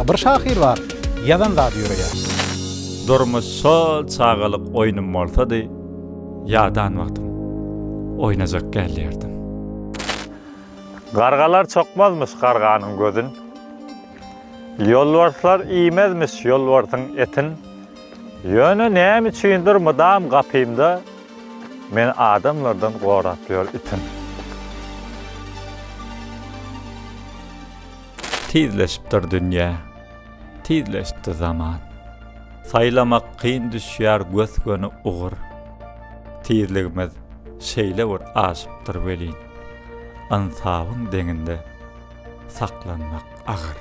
A bir şahyr bar, ýazan zady ýöreýär. Durmuş şol çagalyk oýnum bolsady. Ýadan wagtym, oýnajak gelýärdim. Gargalar çokmazmyş garganyň gözün. Ýolbarslar iýmezmiş ýolbarsyň etin. Ýöne näme üçindir mydam gapymda meni adamlardan gorap ýör itin. Tizleşipdir dünýä, tizleşdi zaman. Saýlamak kyn düşýär gös-göni ugur. Tizligimiz şeýle bir aşypdyr welin, ynsabyň deňinde saklanmak agyr.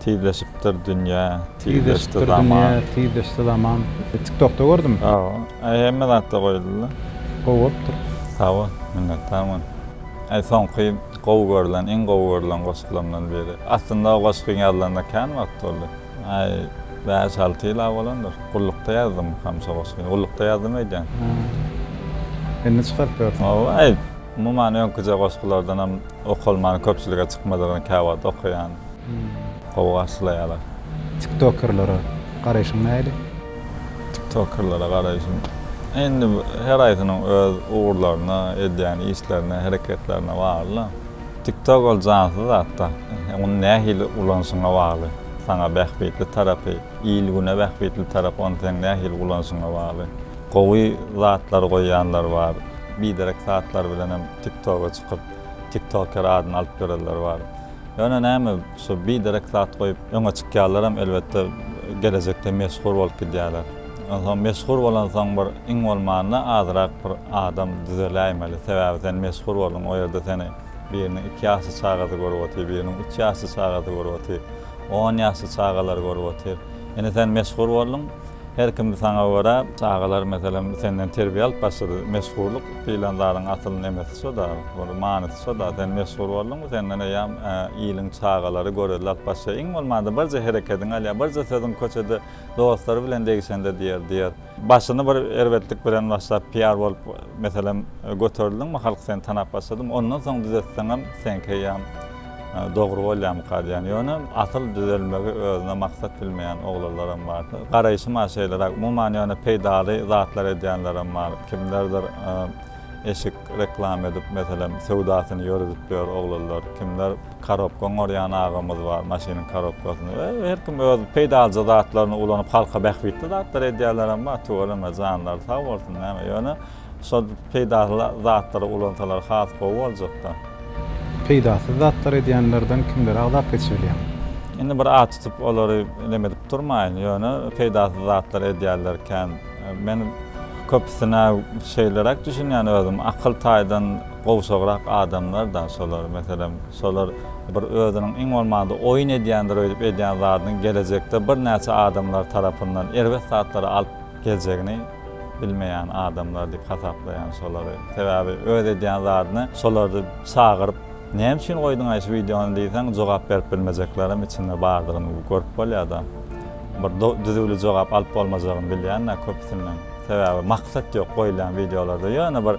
Tizleşipdir dünýä, tizleşdi zaman. Tizleşipdir dünýä, tizleşdi zaman. Tiktokda gördüm. Sag bol. Hemme zatda goýuldy-da. Gowy bolupdyr. Sag bol, minnetdar bolun. Aý soňky gowy görlen iň gowy görlen goşgularymdan biri. Aslynda o goşgyň ýazylanyna kän wagt boldy. Aý bäş alty ýyla bolandyr. Gullukda ýazdymykam şo goşgyny. Gullukda ýazdym öýdýän. Hä. Indi çykaryp ýörsiň. Hawa aý umuman öňküje goşgulardanam okalman köpçülige çykmadygyny käwagt okaýan. Gowy garşylaýalar. Tiktokerlere garaýşyň nähili? Tiktokerlere garaýşym indi her haýsynyň öz ugurlaryna, edýän işlerine, hereketlerine bagly-da. Tiktok ol jansyz zat-da. Ony nähili ulanşyňa bagly. Saňa bähbitli tarapy, il-güne bähbitli tarapy ony seň nähili ulanşyňa bagly. Gowy zatlar goýýanlar bar. Biderek zatlar bilenem Tiktoga çykyp, Tiktoker adyny alyp ýörenler bar. Ýöne näme şu biderek zat goýup öňe çykýallaram elbetde gelejekde meşhur bolup gidýäler. Onsoň meşhur bolansoň bir iň bolmanda azrak bir adam düzeläýmeli. Sebäbi sen meşhur bolduň o ýerde seni biriniň iki ýaşly çagasy görüp otyr, biriniň üç ýaşly çagasy görüp otyr, on ýaşly çagalar görüp otyr. Indi sen meşhur bolduň. Her kim saňa görä. Çagalar meselem senden terbiýe alyp başlady. Meşhurlyk diýlen zadyň asyl nemesi şo-da, bir manysy şo-da. Sen meşhur bolduňmy, senden eýýäm iliň çagalary görelde alyp başlaýar. Iň bolmanda birje herekediňi alýar, birje sözüň köçede dostlary bilen degişende diýer, diýer. Başyny bir erbetlik bilen başlap PR bolup meselem göterildiňmi, halk seni tanap başladymy, ondan soň düzetseňem seňki eýýäm Dogry bolýamyka diýýän. Ýöne asyl düzelmegi özüne maksat bilmeýän oglanlaram bar. Garaýşyma şeýleräk. Umuman ýöne peýdaly zatlar edýänlerem bar. Kimlerdir eşik reklama edip meselem söwdasyny ýöredip ýör oglanlar. Kimler karobka oňarýan agamyz bar, maşynyň karobkasyny. Her kim öz peýdalyja zatlaryny ulanyp halka bähbitli zatlar edýänlerem bar. Tüweleme janlary sag bolsun näme. Ýöne. Şol peýdaly zatlary ulansalar has gowy boljakda. Peýdasyz zatlar edýänlerden kimleri agzap geçibilýäň? Indi bir at tutup olary neme edip durmaýyn, ýöne peýdasyz zatlar edýärler kän. Men köpüsine şeýleräk düşünýän özüm, akyl taýdan gowşagrak adamlar da şolar. Meselem, şolar bir özüniň iň bolmanda oýun edýändir öýdüp edýän zadynyň gelejekde birnäçe adamlar tarapyndan erbet zatlary alyp geljegini, bilmeýän adamlar diýip hasaplaýan şolary. Sebäbi öz edýän zadyny şolary çagyryp näme üçin goýduňaý şu wideony diýseň jogap berip bilmejeklerem içinde bardygyny görüp bolýada. Bir düzüwli jogap alyp bolmajagyny bilýänä köpüsinden. Sebäbi maksat ýok goýulýan wideolarda ýöne bir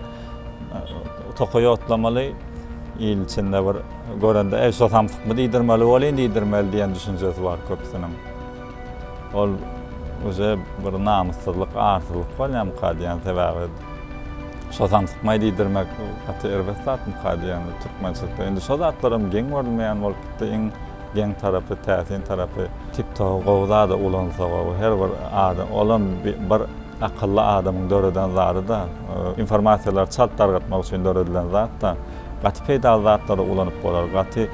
tokaý ýotlamaly il içinde bir görende eý şo samsykmy diýdirmeli bolýyn diýdirmeli diýen düşünjesi bar köpüsiniň. Ol uje bir namyssyzlyk, arsyzlyk bolýamyka diýýän. Sebäbi şo samsykmaý diýdirmek gaty erbet zatmyka diýýän türkmençilikde. Indi şo zatlaram geň görülmeýän bolup gitdi. Iň geň tarapy, täsin tarapy. TikTok-y gowy zada ulansa gowy. Her bir adam, olam bir akylly adamyň döreden zady-da. Informasiýalary çalt dargatmak üçin döredilen zat-da. Gaty peýdaly zatlara ulanyp bolar. Gaty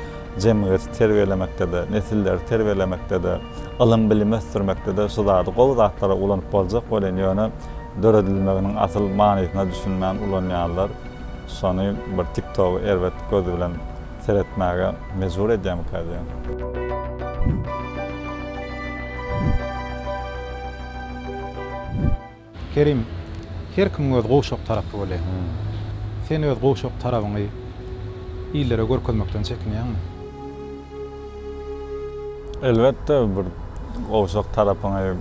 jemgyýeti terbiýelemekde-de, nesilleri terbiýelemekde-de, ylym-bilimi ösdürmekde-de şu zady gowy zatlara ulanyp boljak welin, ýöne döredilmeginiň asyl manysyna düşünmän ulanýanlar şony bir TikTogy erbet göz bilen seretmäge mejbur edýärmikä diýýän. Kerim, her kimiň öz gowşak tarapy bolýar. Sen öz gowşak tarabyňy illere görkezmekden çekinýäňmi? Elbetde, bir gowşak tarapyňy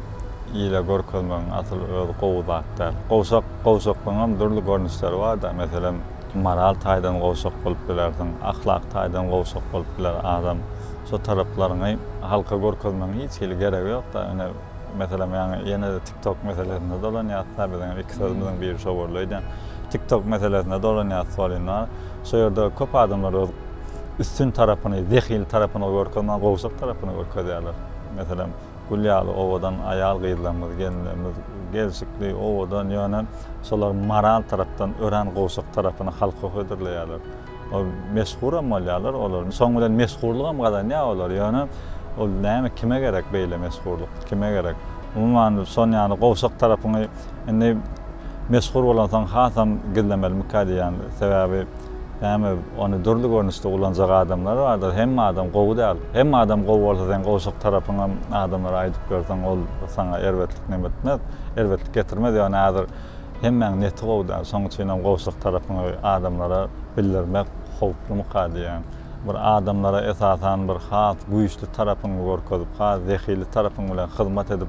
ile görkezmegiň asyl özi gowy zat däl. Gowşak, gowşaklygyňam dürli görnüşleri bar-da. Meselem, moral taýdan gowşak bolup bilersiň, ahlak taýdan gowşak bolup biler adam. Şo taraplaryňy halka görkezmegiň hiç hili geregi ýok-da. Ine, meselem, ýaňy ýene-de. TikTok meselesinde dolanýasda biziň hem iki sözümiziň biri şo boldy. Öýdýän TikTok meselesinde dolanýasda bolýan bar. Şo ýerde köp adamlar öz üstün tarapyny, zehil tarapyny görkezmän gowşak tarapyny görkezýärler. Meselem, gül ýaly owadan aýal-gyzlarymyz, gelinlerimiz gelşikli, owadan, ýöne şolar moral tarapdan örän gowşak tarapyny halka hödürleýärler. Ol meshuram bolýarlar olar. Soň bilen mesgurlygam gazanýar olar. Ýöne ol näme kime gerek beýle mesgurlyk? Kime gerek? Umuman şon ýaly gowşak tarapyňy indi mesgur bolansoň hasam gizlemelimikä diýýän. Sebäbi näme ony dürli görnüşde ulanjak adamlar bardyr. Hemme adam gowy däl. Hemme adam gowy bolsa seň gowşak tarapyňam adamlara aýdyp ýörseň ol saňa erbetlik näme etmez. Erbetlik getirmez. Ýöne häzir Hemmäň neti gowy däl, şoň üçinem gowşak tarapyňy adamlara bildirmek howplymyka diýýän. Bir adamlara esasan bir has güýçli tarapyňy görkezip, has zehili tarapyň bilen hyzmat edip,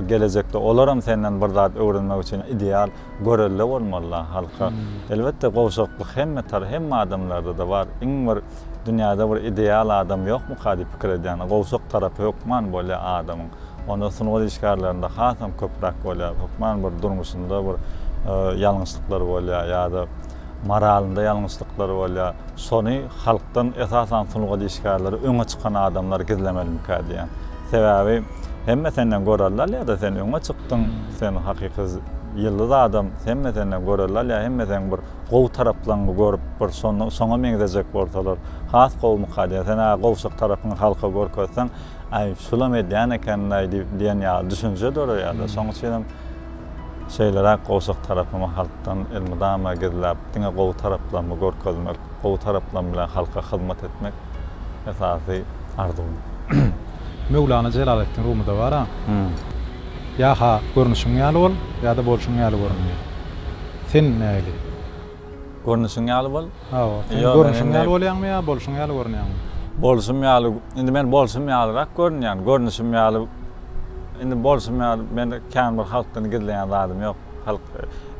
gelejekde olaram senden bir zat öwrenmek üçin ideal görelde bolmaly-la halka. Elbetde gowşaklyk hemme tar, hemme adamlarda-da bar. Iň bir dünýäde bir ideal adam ýokmyka diýip pikir edýän. Gowşak tarapy hökman bolýar adamyň. Onda sungat işgärlerinde hasam köpräk bolýar. Hökman bir durmuşynda bir ýalňyşlyklar bolýar ýa-da moralynda ýalňyşlyklar bolýar. Şony halkdan esasan sungat işgärleri öňe çykan adamlar gizlemelimikä diýýän. Sebäbi hemme senden görelde alýar-da, sen öňe çykdyň, sen hakyky ýyldyz adam, hemme senden görelde alýar, hemme seň bir gowy taraplaňňy görüp bir şoňa meňzejek bolsalar has gowumyka diýýär. Sen-ä gowşak tarapyňy halka görkezseň, Aý, şulam edýän ekeni-laý diýip, diýen ýaly düşünje döreýärdi. Şonuň üçin hem şeýleräk gowşak tarapymy halkdan elmydama gizläp, diňe gowy taraplarymy görkezmek, gowy taraplarym bilen halka hyzmat etmek esasy arzuwym. Möwlana Jelaleddin Rumyda bar-a, Ýa-ha görnüşiň ýaly bol, ýa-da bolşuň ýaly görünme. Sen nähili? Görnüşiň ýaly bol. Hawa, sen görnüşiň ýaly bolýaňmy ýa bolşuň ýaly görünýäňmi? Bolşum ýaly, indi men bolşum ýalyrak görünýän, görnüşim ýaly, indi bolşum ýaly, men kän bir halkdan gizleýän zadym ýok. Halk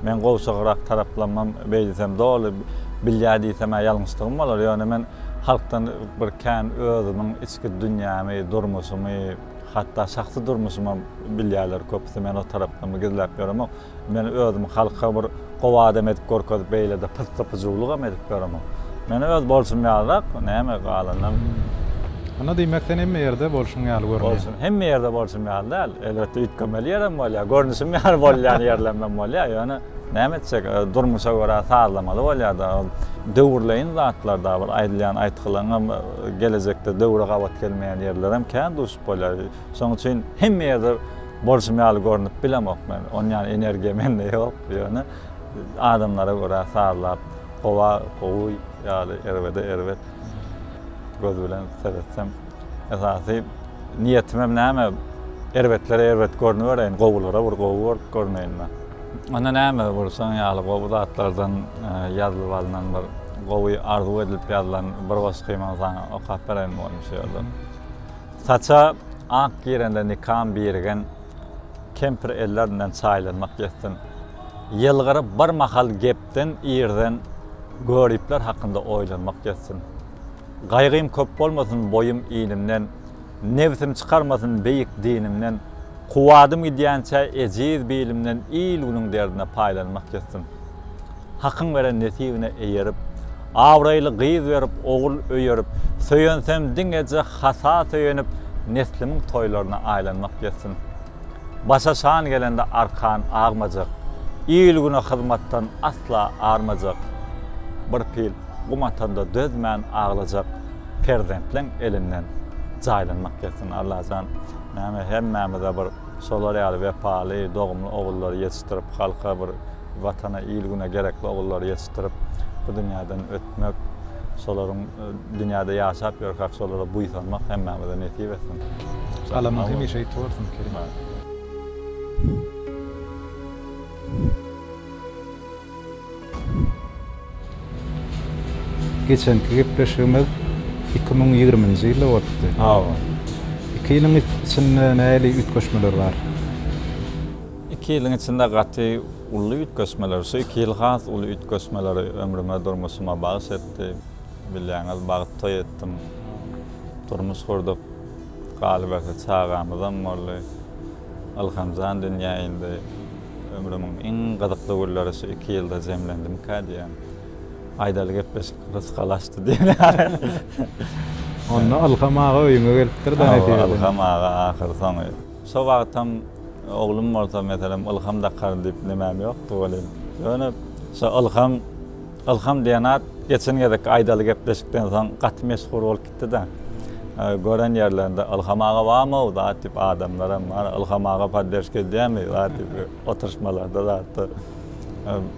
meň gowşagrak taraplamam beýdesem doly bilýär diýsem-ä ýalňyşlygym bolar, ýöne men halkdan bir kän özümiň içki dünýämi, durmuşymy, hatda şahsy durmuşymam bilýärler köpüsi, men o taraplamy gizläp ýöremok. Men özüm halka bir gowy adam edip görkezip beýlede pyssy-pyjulygam edip ýöremen. Men öz bolşum ýalyrak näme galandan. Onda diýmek sen hemme ýerde bolşuň ýaly görünýän. Bolşum hemme ýerde bolşum ýaly däl. Elbetde üýtgemeli ýerem bolýar. Görnüşim ýaly bolýan ýerlemem bolýar. Ýöne näme etjek durmuşa görä sazlamaly bolýar-da. Ol döwürleýin zatlar da bir aýdylýan aýtgylaňam gelejekde döwre gabat gelmeýän ýerlerem kän duşup bolýar. Şonuň üçin hemme ýerde Bolşum ýaly görnüp bilemok men, onýan energiýa mende ýok, ýöne adamlara görä sazlap gowa gowy ýaly erbede erbet göz bilen seretsem esasy niýetimem näme erbetlere erbet görnübereýin gowulara bir gowy bolup görneýin men. Onda näme bir şoň ýaly gowy zatlardan ýazylyp alnan bir gowy arzuw edilip ýazylan bir goşgymyňy saňa okap bereýin bolmuşa ýöne. Saça ak girende nikam birigen kempir ellerinden çaýlanmak ýetsin. Ýylgyryp bir mahal gepden irden göripler hakynda oýlanmak ýetsin. Gaýgym köp bolmasyn boýum inimden, nebsim çykarmasyn beýik dinimden, kuwwatym gidýänçä ejiz bilimden il-günüň derdine paýlanmak ýetsin. Hakyň beren nesibine eýerip, Abraýly gyz berip, ogul öýerip, Söýensem diňeje hata söýenip, Neslimiň toýlaryna aýlanmak ýetsin. Başa şan gelende arkan agmajak, Il-güne hyzmatdan asla armajak, Bir pil gum atanda dözmän aglajak, Perzentleň elinden jaýlanmak ýetsin. Allajan näme hemmämize bir şolar ýaly wepaly, dogumly ogullary ýetişdirip, halka bir. Watana, il-güne gerekli ogullary ýetişdirip, bu dünýäden ötmek, şolaryň dünýäde ýaşap ýörkäk şolara buýsanmak hemmämize nesip etsin. Galamyň hemişe ýiti bolsun, Kerim! Geçenki gepleşigimiz iki müň ýigriminji ýylda bolupdy. Hawa. Iki ýylyň içinde nähili üýtgeşmeler bar? Iki ýylyň içinde gaty uly üýtgeşmeler, şu iki ýyl has uly üýtgeşmeleri ömrüme, durmuşyma bagyş etdi. Bilýäňiz, bagt toý etdim, durmuş gurduk. Galyberse çagamyzam boldy. Ylhamjan dünýä indi. Ömrümiň iň gyzykly günleri şu iki ýylda jemlendimikä diýýän. Aýdaly gepleşik rysgalaşdy diýen ýaly. Onda Ylham aga öýüňe gelipdir-dä netijesinde. Hawa, Ylham aga ahyrsoňy. Şo wagtam oglum bolsa, meselem, Ylham Dakar diýip nimäm ýokdy welin, ýöne şo Ylham, Ylham diýen at geçen gezekki aýdaly gepleşikden soň gaty meşhur bolup gitdi-de. Gören ýerlerinde Ylham aga barmy-ow zat diýip, adamlaram bar, Ylham aga podderşka edýärmi zat diýip, oturyşmalarda zatda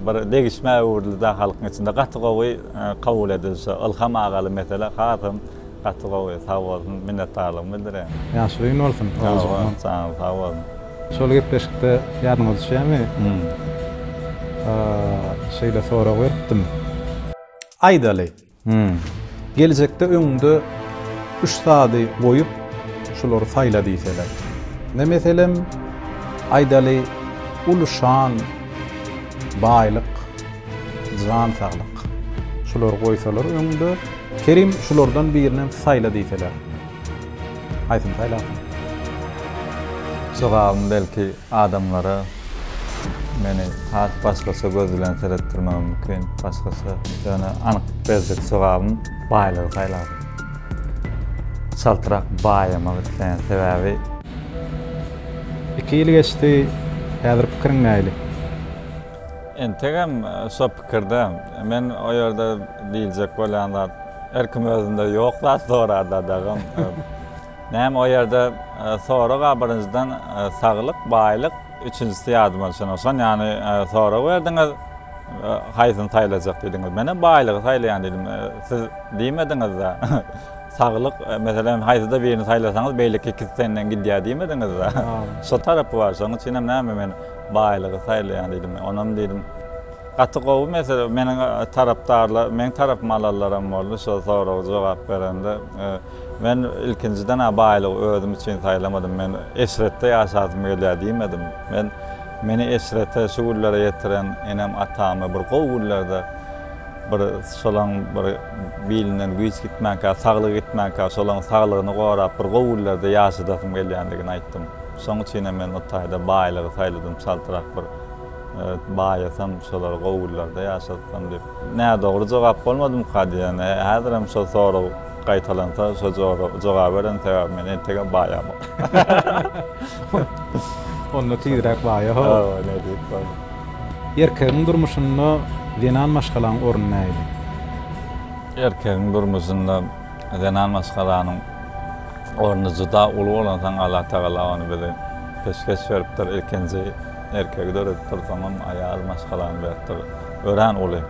bir degişmä öwrüldi-de halkyň içinde. Gaty gowy kabul edildi şo Ylham agaly mesele, hasam. Gaty gowy sag bolsun minnetdarlygymy bildiren. Ýaşyl gün bolsun Oguljan. Janyň sag bolsun. Şol gepleşikde ýadyňyza düşýämi? Şeýle sorag beripdim. Aýdaly. Geljekde öňüňde üç zady goýup şulary saýla diýseler. Ne meselem aýdaly uly şan, baýlyk. Jan saglyk. Şulary goýsalar öňde. Kerim şulardan birinem saýla diýseler. Haýsyny saýlarsyň? Jogabym belki adamlara meni has başgaça göz bilen seretdirmegi mümkin, başgaça, ýöne anyk berjek jogabym baýlygy saýlardym. Çaltrak baýamak isleýän sebäbi. Iki ýyl geçdi, häzir pikiriň nähili? Entegem şo pikirde. Men o ýerde diýiljek bolýan zat, her kim özünde ýok zat sorar dadagam. Näme o ýerde sorag-a birinjiden saglyk, baýlyk, üçünjisi ýadyma düşenok şon ýany sorag berdiňiz, haýsyny saýlajak diýdiňiz. Menem baýlygy saýlaýan diýdim. Siz diýmediňiz-de, saglyk, meselem, haýsyda birini saýlasaňyz beýleki ikisi senden gidýär diýmediňiz-de. Şo tarapy bar, şonuň üçinem näme men. Baýlygy saýlaýaň diýdim men. Onam diýdim, gaty gowy mesele. Meniň tarapdarlar, meň tarapymy alanlaram boldy şo soraga jogap berende. Men ilkinjiden-ä baýlygy özüm üçin saýlamadym. Men eşretde ýaşasym gelýär diýmedim. Men meni eşrete, şu günlere ýetiren enem-atamy bir gowy günlerde bir şolaň bir bilinden güýç gitmänkä, saglygy gitmänkä şolaň saglygyny gorap bir gowy günlerde ýaşadasym gelýändigini aýtdym. Şoň üçinem men o taýda baýlygy saýladym, çaltrak bir baýasam, şolar gowy günlerde ýaşatsam diýip. Nädogry jogap bolmadymyka diýen. Häzirem şo sorag gaýtalansa, şo jogaby beren, sebäbi men entegem baýamok. Onda tizräk baýa, ho. Hawa, ne diýip boldy. Erkegiň durmuşynda zenan maşgalaň orny nähili? Erkegiň durmuşynda zenan maşgalanyň. Orny juda uly bolansoň Allatagala ony bize peşgeş beripdir. Ilkinji erkegi döredipdir, soňam aýal maşgalany beripdir. Örän uly,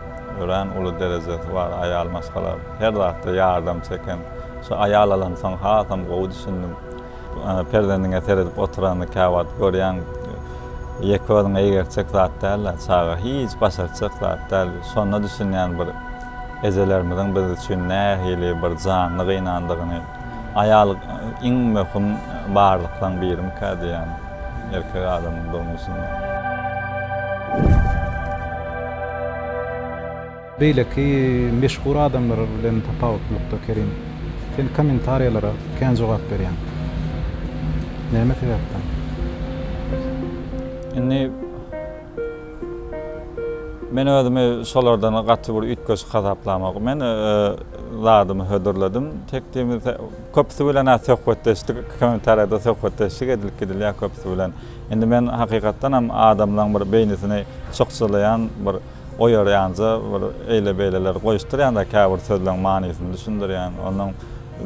örän uly derejesi bar aýal maşgala. Her zatda ýardam çeken. Şu aýal alamsoň hasam gowy düşündim. Perzendiňe seredip oturanyny käwagt görýäň. Ýeke özüňe eýgertjek zat däl-ä çaga. Hiç başartjak zat däl. Şonda düşünýän bir. Ejelerimiziň biz üçin nähili bir janly gynandygyny, aýal iň möhüm barlyklaryň birimikä diýýän erkek adamyň durmuşynda. Beýleki meşhur adamlar bilen tapawutlylykda Kerim, sen kommentariýalara kän jogap berýäň. Näme sebäpden? Indi. Men özümi şolardan gaty bir üýtgeşik hasaplamok. Men zadymy hödürledim. Tekdimi köpüsi bilen-ä söhbetdeşlik, kommentariýada söhbetdeşlik edilip gidilýär köpüsi bilen. Indi men hakykatdan hem adamlaryň bir beýnisini çykjylaýan, bir oýarýanja, bir eýle-beýleler goýuşdyrýan-da, käbir sözleriň manysyny düşündirýän, onuň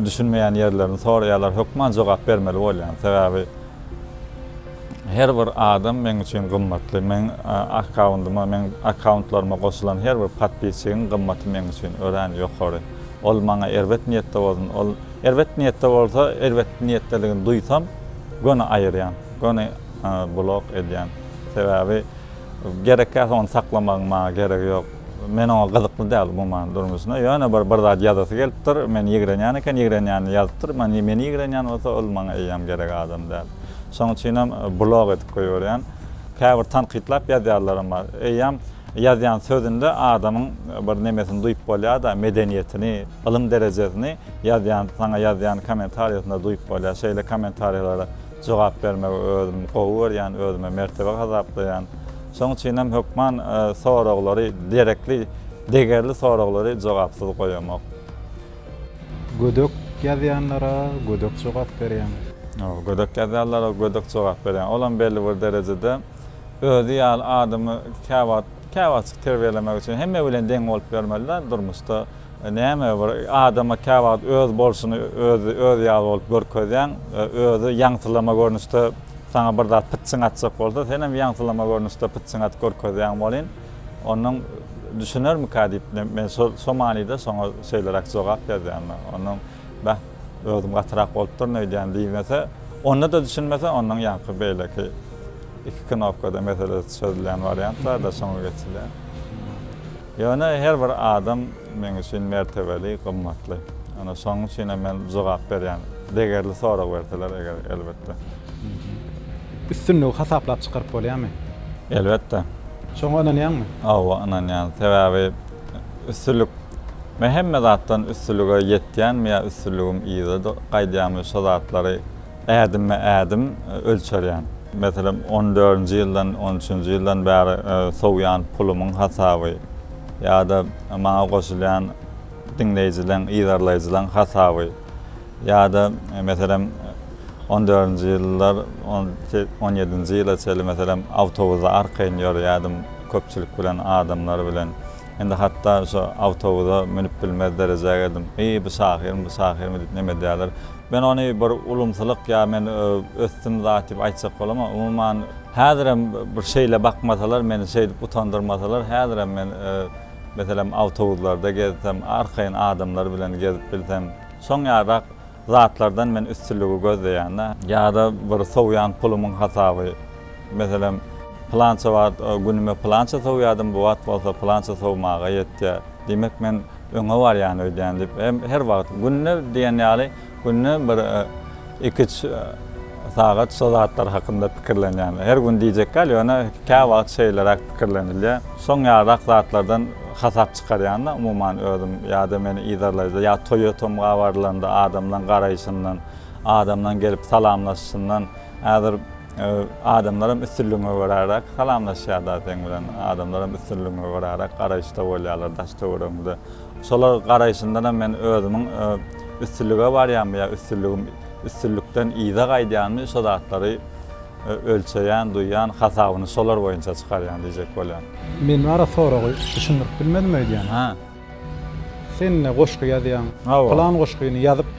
düşünmeýän ýerlerini soraýarlar, hökman jogap bermeli bolýan. Sebäbi. Her bir adam meň üçin gymmatly. Meň akkaundyma, meň akkauntlaryma goşulan her bir podpisçigiň gymmaty meň üçin örän ýokary. Ol maňa erbet niýetde bolsun, ol erbet niýetde bolsa, erbet niýetdedigini duýsam, göni aýyrýan, göni blok edýän. Sebäbi gerekkäsi ony saklamagyň maňa geregi ýok. Men oňa gyzykly däl umuman durmuşyna. Ýöne bir bir zat ýazasy gelipdir. Meni ýigrenýän eken, ýigrenýänini ýazypdyr. Meni meni ýigrenýän bolsa, ol maňa eýýäm gerek adam däl. Şoň üçinem blog edip goýberýän. Käbir tankytlap ýazýanlarym bar. Eýýäm ýazýan sözünde adamyň bir nemesini duýup bolýar-da, medeniýetini, ylym derejesini ýazýan, saňa ýazýan kommentariýasynda duýup bolýar. Şeýle kommentariýalara jogap bermegi özüm gowy görýän, özüme mertebe hasaplaýan. Şoň üçin hem hökman soraglary, derekli, degerli soraglary jogapsyz goýamok. Gödek ýazýanlara gödek jogap berýäň. Hawa, gödek ýazýanlara gödek jogap berýän. Olam belli bir derejede özi ýaly adamy käwagt, käwagtjyk terbiýelemek üçin hemme bilen deň bolup ýörmeli-dä durmuşda. Näme bir adama käwagt öz bolşuny özi, öz ýaly bolup görkezýäň, özi ýaňsylama görnüşde. Saňa bir zat pytçyň atjak bolsa, senem ýaňsylama görnüşde pytçyň atyp görkezýäň welin, onuň düşünermikä diýip, men şo manyda şoňa şeýleräk jogap ýazýan. Onuň, Bäh, özüm gatyrak bolupdyryn öýdýän diýmese, onda-da düşünmese, onuň ýaňky beýleki iki knopkada meselesi çözülýän wariantlarda şoňa geçilýär. Ýöne her bir adam meň üçin mertebeli, gymmatly. Ana şonuň üçin hem men jogap berýän. Degerli sorag berseler eger elbetde. Üstünligi hasaplap çykaryp bolýarmy? Elbetde. Şoňa ynanýaňmy? Hawa ynanýan. Sebäbi üstünlik men hemme zatdan üstünlige ýetýänmi ýa üstünligim yza gaýdýarmy şo zatlary ädimme-ädim ölçerýän. Meselem, on dördünji ýyldan, on üçünji ýyldan bäri sowýan pulumyň hasaby ýa-da maňa goşulýan diňleýjileň, yzarlaýjylaň hasaby ýa-da, meselem, on dördünji ýyllar, on ýedinji ýyla çenli, meselem, awtobusda arkaýyn ýörýärdim köpçülik bilen, adamlar bilen. Indi hatda şo awtobusa münüp bilmez derejä geldim. Eý, bu şahyrmy, bu şahyrmy diýip, neme edýärler, Men ony bir ulumsylyk ýa men ösdüm zat diýip aýtjak bolamok. Umuman, häzirem bir şeýle bakmasalar, meni şeýdip utandyrmasalar, häzirem men, meselem, awtobuslarda gezsem, arkaýyn adamlar bilen gezip bilsem, şoň ýarak zatlardan men üstünligi gözleýän-dä. Ýa-da bir sowýan pulumyň hasaby, meselem, pylança wagt günüme pylança sowýardym, bu wagt bolsa pylança sowmaga ýetýär. Diýmek, men. öňe barýan öýdýän diýip hem her wagt günde diýen ýaly günde bir iki üç sagat şo zatlar hakynda pikirlenýän her gün diýjek däl ýöne kä wagt şeýleräk pikirlenilýä şoň ýalyrak zatlardan hasap çykarýanda umuman özüm ýada meni yzarlaýda ýa toýa tomga barylanda adamlaň garaýşyndan adamlaň gelip salamlaşyşyndan häzir Adamlaram üstünligiňe göräräk salamlaşýarda seň bilen. Adamlaram üstünligiňe göräräk garaýyşda bolýarlar daş-töweregiňde. Şolar garaýşyndanam men özümiň üstünlige barýanmy ýa üstünligim üstünlikden yza gaýdýanmy şo zatlary ölçeýän, duýýan, hasabyny şolar boýunça çykarýan diýjek bolýan. Men ara soragy düşündirip bilmedim öýdýän. Hä. Sen ne goşgy ýazýaň? Hawa. Pylan goşgyny ýazyp,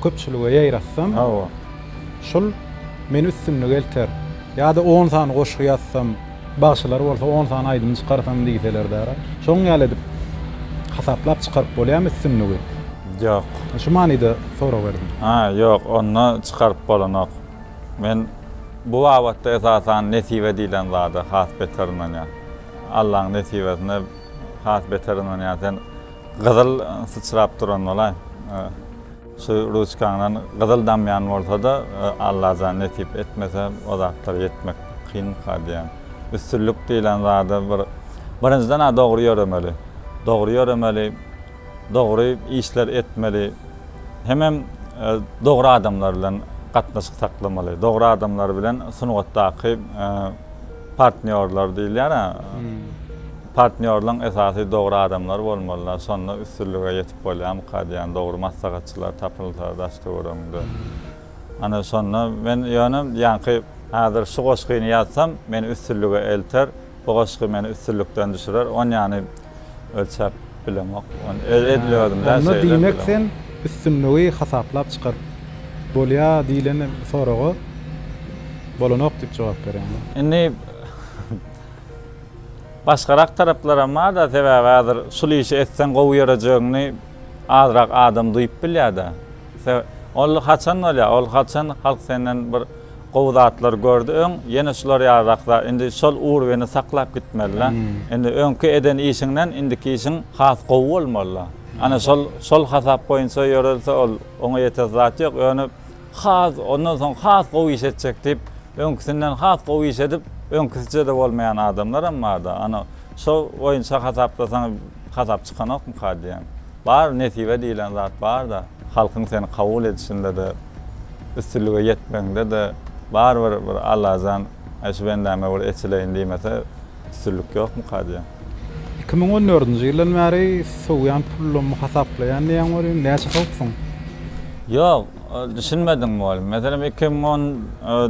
köpçülige ýaýratsam, Hawa. şol meni üstünlige elter. Ýa-da on sany goşgy ýazsam, bagşylar bolsa on sany aýdym çykarsam diýseler-dä-ra, şoň ýaly edip hasaplap çykaryp bolýamy üstünligi? Ýok. Şu manyda sorag berdim. Ha, ýok, onda çykaryp bolanok. Men bu babatda esasan nesibe diýlen zada has beter ynanýan. Allaň nesibesine Has beter ynanýan sen gyzyl syçrap duran bolaý. Şu ruçkaňdan gyzyl damýan bolsada Allajan nesip etmese o zatlara ýetmek kynka diýýän. Üstünlik diýilen zada bir birinjiden a dogry ýöremeli. Dogry ýöremeli, dogry işler etmeli. Hemem dogry adamlar bilen gatnaşyk saklamaly. Dogry adamlar bilen sungatdaky Partnýorlar diýilýär a. Partnýorlaň esasy dogry adamlar bolmalylar, şonda üstünlige ýetip bolýamyka diýýän, dogry maslahatçylar tapylsa daş-töweregiňde. Ana şonda men ýöne ýaňky häzir şu goşgyny ýazsam, meni üstünlige elter, bu goşgy meni üstünlikden düşürer, onýany ölçäp. Bilemok. Onda diýmek sen üstünligi hasaplap çykaryp bolýa diýlen soraga bolanok diýip jogap berýäňmi? Indi başgarak taraplaram barda sebäbi häzir şul işi etseň gowy ýörejegiňi azrak adam duýup bilýärde. Ol haçan bolýa ol haçan halk senden bir Gowy zatlar gördi öň ýene şular ýaly rak zat indi şol urwini saklap gitmelila indi öňki eden işiňden indiki işiň has gowy bolmalyla ana şol şol hasap boýunça ýörelse ol oňa ýetersi zat ýok ýöne has ondan soň has gowy iş etjek diýip öňkisinden has gowy iş edip öňkisijede bolmaýan adamlaram barda ana şo boýunça hasaplasaň hasap çykanokmyka diýýän. Bar nesibe diýilen zat barda, halkyň seni kabul edişinde-de, üstünlige ýetmegiňde-de barybir bir Allajan Äý şu bendäme bir eçileýin diýmese üstünlik ýokmuka diýýän. Iki müň on dördünji ýyldan bäri sowýan pulumy hasaplaýan diýýän welin, näçe sowupsyň? Ýok, düşünmediňmi welin? Meselem iki müň on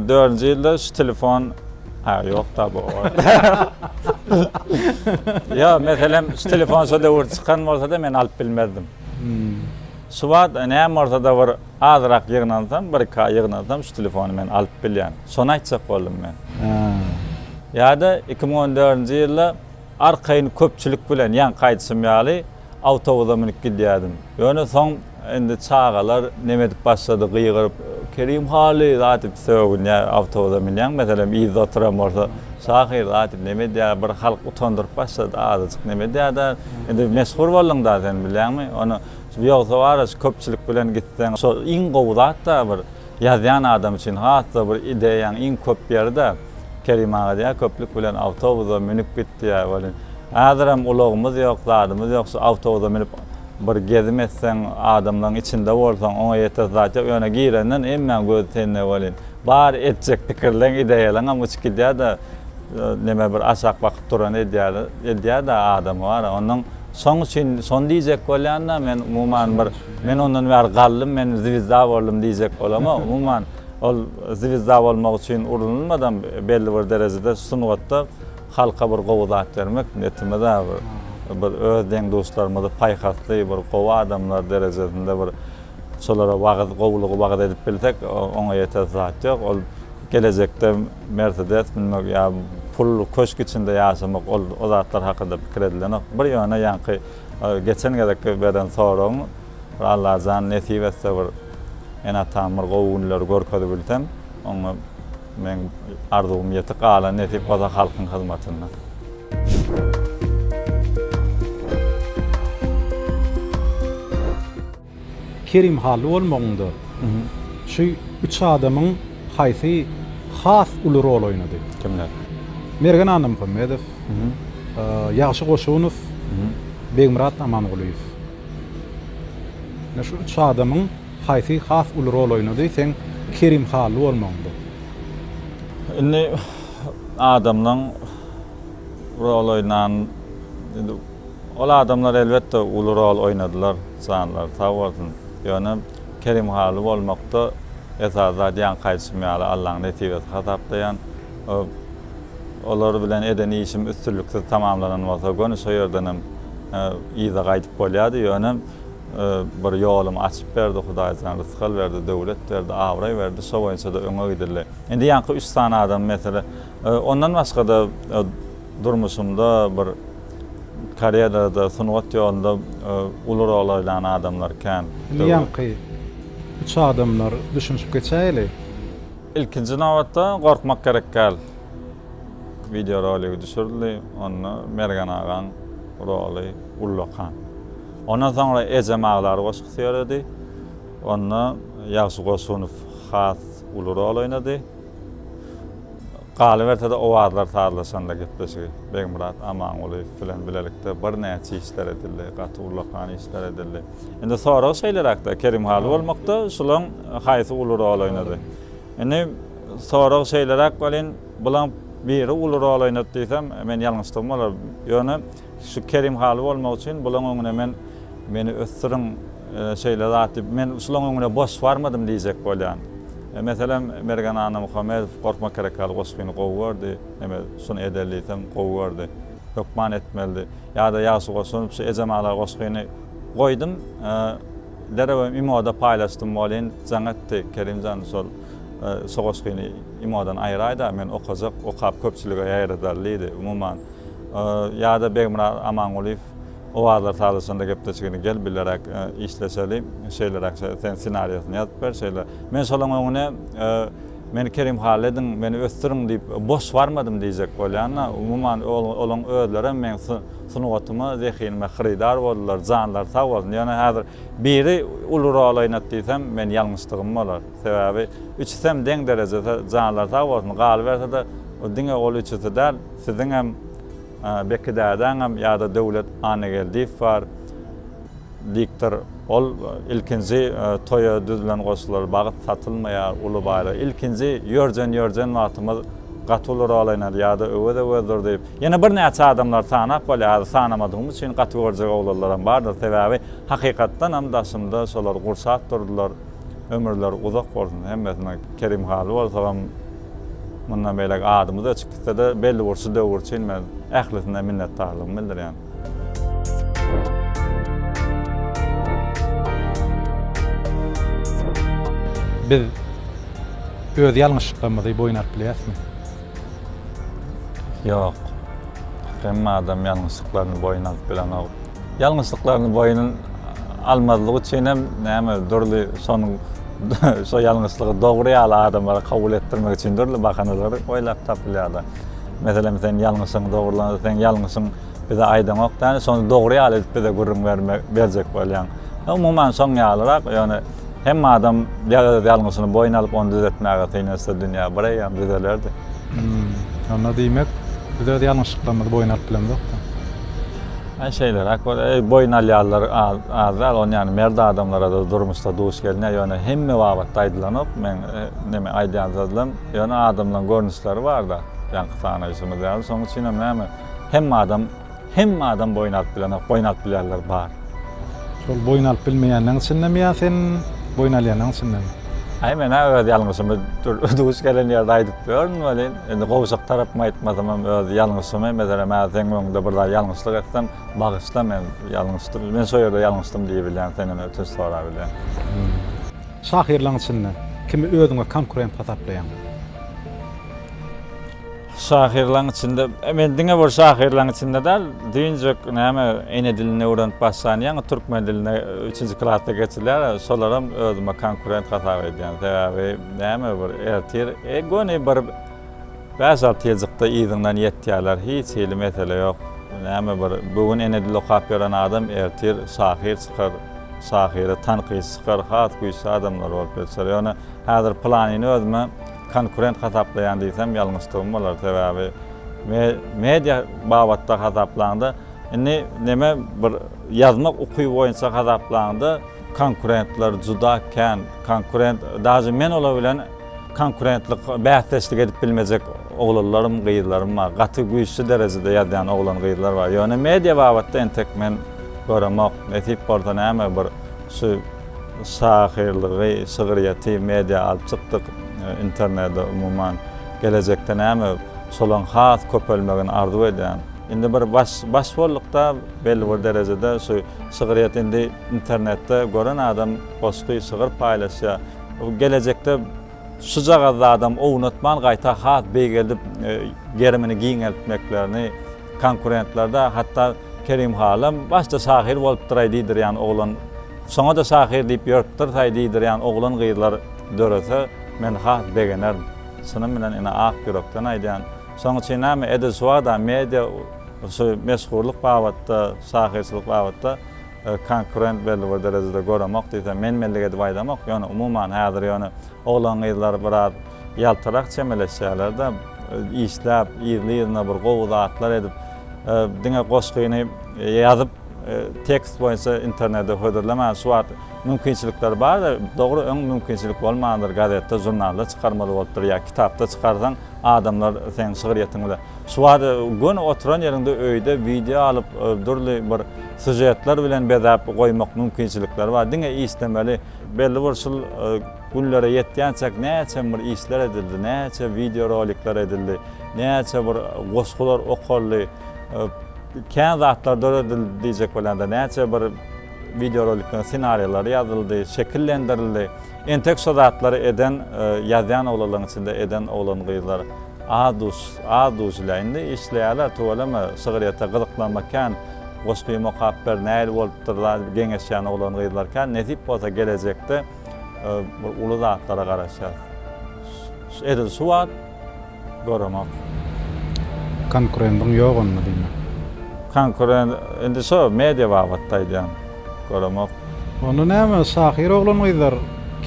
dördünji ýylda şu telefon. Ha yok da bu. ya meselem şu telefon şu döwür çykan bolsa da men alyp bilmezdim. Hmm. Şu wagt näme bolsa da bir azrak ýygnansam, bir ka ýygnansam şu telefony men alyp bilýän. Şony aýtjak boldum men. Ýa-da 2014-nji ýylda arkaýyn köpçülik bilen ýaňky aýdyşym ýaly awtobusa münüp gidýärdim. Ýöne soň indi çagalar neme edip başlady, gygyryp, Kerim haly zat edip sögünýär, awtobusa münýäň, meselem, yzda oturan bolsa, şahyr zat edip neme edýär, bir halk utandyryp başlady, azajyk neme edýär-dä, indi meşhur bolduň-da sen, bilýäňmi, ony, ýogsa bar-a şu köpçülik bilen gitseň, şo iň gowy zat-da bir, ýazýan adam üçin has-da bir ideýaň iň köp ýeri-dä. Kerim aga diýýär, köplük bilen awtobusa münüp git diýýär. Welin, häzirem ulagymyz ýok, zadymyz ýok, şu awtobusa münüp bir gezim etseň, adamlaryň içinde bolsaň, oňa ýetersi zat ýok. Ýöne girenden hemmäň gözi sende welin, bar etjek pikirleň, ideýalaňam uçup gidýär-de, neme bir aşak bakyp duran edýär, edýär-de adamy bar-a. Onnoň şoň üçin şony diýjek bolýan-da, men umuman bir, men ondan bäri galdym, men zwizda boldum diýjek bolamok, umuman. Ol zwizda bolmak üçin urunylmadam belli bir derejede sungatda halka bir gowy zat bermek netimiza bir bir öz deň duşlarymyzy paýhasly bir gowy adamlar derejesinde bir şolara wagyz gowulygy wagyz edip bilsek oňa ýetesi zat ýok ol gelejekde mersedes münmek ýa pul köşk içinde ýaşamak ol o zatlar hakynda pikir edilenok bir ýöne ýaňky geçen gezekki beren soragyň bir allajan nesip etse bir Ene-atam bir gowy günleri görkezip bilsem, oňa meň arzuwym ýetik, galan nesip bolsa halkyň hyzmatynda. Kerim Hally bolmagyňda, şu üç adamyň haýsy has uly rol oýnady? Kimler? Mergen Annamuhammedow, Ýagşy Goşunow, Begmyrat Amangulyýew. Ine şu üç adamyň haýsy has uly rol oýnady? Seň Kerim Hally bolmagyň bu. Indi adamlaň rol oýnan indi ol adamlar elbetde uly rol oýnadylar janlary sag bolsun. Ýöne Kerim Hally bolmakda esasy zat ýaňky aýdyşym ýaly Allaň nesibesi hasaplaýan. Olar bilen eden işim üstünliksiz tamamlanan bolsa, göni şo ýerdenem yza gaýdyp bolýardy. Ýöne bir ýolumy açyp berdi Hudaýjan, rysgal berdi, döwlet berdi, abraý berdi, şo boýunça-da öňe gidildi. Indi ýaňky üç sany adamy, meselem, ondan başga-da durmuşymda bir karýerada, sungat ýolunda uly rol oýnan adamlar kän. Indi ýaňky üç adamlar düşünişip geçäýeli. Ilkinji nobatda gorkmak gerek däl. Wideo roligi düşürildi, onda Mergen agaň roly ullakan. Ondan soňra Ejem aglar goşgusy ýöredi. Onda Ýagşy Goşunow has uly rol oýnady. Galyberse-de owazlar sazlaşanda gepleşigi Begmyrat Amangulyýew bilen bilelikde birnäçe işler edildi, gaty ullakan işler edildi. Indi sorag şeýleräkde, Kerim Haly bolmakda şulaň haýsy uly rol oýnady? Indi sorag şeýleräk welin, bulaň biri uly rol oýnady diýsem, men ýalňyşdygym bolar. Ýöne şu Kerim Haly bolmak üçin bulaň öňüne men meni ösdüriň, şeýle zat diýip, men şulaň öňüne boş barmadym diýjek bolýan. Meselem, Mergen Annamuhammedow Gorkmak gerek ýaly goşgyny gowy gördi, eme, şuny edeli diýsem, gowy gördi. hökman etmelidi. Ýa-da ýagşy goşulyp şu Ejem aglar goşgyny goýdum, derewem imoda paýlaşdym welin jaň etdi. Kerimjan şol şu goşgyny imodan aýraýda, men okajak, okap köpçülige ýaýradar diýdi. Umuman, ýa-da Begmyrat Amangulyýew owazlar sazyşanda gepleşigini gel bileräk işleşeli, şeýleräk sen ssenariýasyny ýazyp ber, şeýle. Men şolaň öňüne. Men Kerim Halediň meni ösdüriň diýip boş barmadym diýjek bolýan-a, umuman olaň özlerem meň sungatyma, zehinime hyrydar boldular, janlary sag bolsun. Ýöne häzir biri uly rol oýnat diýsem, men ýalňyşdygym bolar. Sebäbi üçüsem deň derejede, janlary sag bolsun. Galyberse-de, diňe ol üçüsi däl, siziňem, Beki dädäňem ýa-da Döwlet Annageldiýew bar. Diktor, Ol ilkinji toýa düzülen goşgular, bagt satylmaýar, uly baýlyk. Ilkinji ýörjen-ýörjen wagtymyz gaty uly rol oýnady, ýa-da öwez-öwezdir diýip, ýene birnäçe adamlary sanap bolýar, sanamadygym üçin gaty görjek oglanlaram bardyr, sebäbi hakykatdanam daşymda şolar gurşap durdular, ömürleri uzak bolsun hemmesiniň, Kerim Haly bolsagam mundan beýläk adymyz öçüp gitse-de, belli bir şu döwür üçin men ählisine minnetdarlygymy bildirýän. Biz öz ýalňyşlyklarymyzy boýun alyp bileýäsmi? Ýok. Hemme adam ýalňyşlyklaryny boýun alyp bilenok. Ýalňyşlyklaryny boýun almazlyk üçin hem näme dürli şonuň şo ýalňyşlygy dogry ýaly adamlara kabul etdirmek üçin dürli bahanalary oýlap tapylýar-da. Meselem sen ýalňyşyň dogrulanada sen ýalňyşyň bize aýdaňok däl şony dogry ýaly edip bize gürrüň bermek berjek bolýaň. Umuman şoň ýalyrak ýöne hem adam ýa-da ýalňyşyny boýun alyp ony düzetmäge synanyşsa dünýä bir eýýam düzelerdi. Onda diýmek biz öz ýalňyşlyklarymyzy boýun alyp bilemzok-da. Aý şeýleräk bol. Eý boýun alýanlar az däl ony ýany merd adamlara-da durmuşda duş gelýär ýöne hemme babatda aýdylanok meň neme aýdýan sözlem. Ýöne adamlaň görnüşleri barda, ýaňky sanaýyşymyz ýaly, şoň üçinem näme, hemme adam, hemme adam boýun alyp bilenok, boýun alyp bilýänler bar. Şol boýun alyp bilmeýänleň içindemi ýa sen boýun alýanlaň içindemi? Aý men-ä öz ýalňyşymy duş gelen ýerde aýdyp ýörün welin, indi gowşak tarapymy aýtmasamam öz ýalňyşymy, meselem hä seň öňüňde bir zat ýalňyşlyk etsem, bagyşla men ýalňyşdym, men şo ýerde ýalňyşdym diýibilýän, senden ötünç sorabilýän. Şahyrlaň içinde kimi özüňe konkurent hasaplaýaň? Şahyrlaň içinde, men diňe bir şahyrlaň içinde däl, düýnjek näme ene dilini öwrenip başlan ýaňy türkmen diline üçünji klasda geçilýär, şolaram özüme konkurent hasap edýän. Sebäbi näme bir ertir, göni bir. Bäş-alty ýyljykda yzyňdan ýetýärler, hiç hili mesele ýok. Näme bir, bu gün Enedil okap ýören adam ertir şahyr çykar, şahyry tankytçy çykar, has güýçli adamlar bolup ýetişer. Ýöne häzir pylanyny özüme konkurent hasaplaýan diýsem ýalňyşdygym bolar. Sebäbi me, media babatda hasaplaňda, indi neme bir ýazmak ukyby boýunça hasaplaňda konkurentler juda kän. Konkurent, daže men olar bilen. Konkurentlik bäsdeşlik edip bilmejek oglanlarym gyzlarym bar gaty güýçli derejede ýazýan oglan gyzlar bar ýöne media babatda entek men göremok nesip bolsa näme bir şu şahyrlygy şygyrýeti media alyp çykdyk internede umuman gelejekde näme şolaň has köpelmegini arzuw edýän indi bir baş baş boldukda belli bir derejede şu şygyrýet indi internetde gören adam goşgy şygyr paýlaşýa. Gelejekde şujagaz zadam ownatman gaýta has beýgeldip gerimini giňeltmeklerini konkurentlerde hatda Kerim halam başda şahyr bolupdyraý diýdirýän oglan soňada şahyr diýip ýörüpdirsaý diýdirýän oglan gyzlar dörese men has begenerin çynym bilen ine ak ýürekden aýdýan şoň üçin näme edil şuwagda media şu meşhurlyk babatda şahyrçylyk babatda Konkurent belli bir derejede göremok diýsem menmenlik edip aýdamok. Ýöne umuman häzir ýöne oglan-gyzlar biraz ýaltarak çemeleşýärler-de, işläp, yzly-yzyna bir gowy zatlar edip, diňe goşgyny ýazyp, tekst boýunça internete hödürlemän, şu wagt mümkinçilikler bar-da, dogry öň mümkinçilik bolmandyr, gazetde, žurnalda çykarmaly bolupdyr ýa kitapda çykarsaň adamlar seň şygryýetiňi bile. Şu wagt göni oturan ýeriňde öýde wideo alyp, dürli bir sujetler bilen bezäp goýmak mümkinçilikleri bar. Diňe islemeli. Belli bir şul günlere ýetýänçäk näçe bir işler edildi, näçe wideo rolikler edildi, näçe bir goşgular okaldy, kän zatlar döredildi diýjek bolýan-da, näçe bir wideo rolikleriň ssenariýalary ýazyldy, şekillendirildi. Entek şo zatlary eden, ýazýan oglalaryň içinde eden oglan-gyzlar. Az duş, az duşla. Indi işleýärler, tüweleme, şygryýete gyzyklanmak kän. Goşgymy okap ber, nähili bolupdyr-la diýip geňeşýän oglan-gyzlar kän. Nesip bolsa gelejekde bir uly zatlara garaşýarys. Edil şu wagt göremok. Konkurendiň ýok onda diýmek? Konkurent, indi şo media babatda aýdýan. Göremok. Onda näme, şahyr oglan-gyzlar,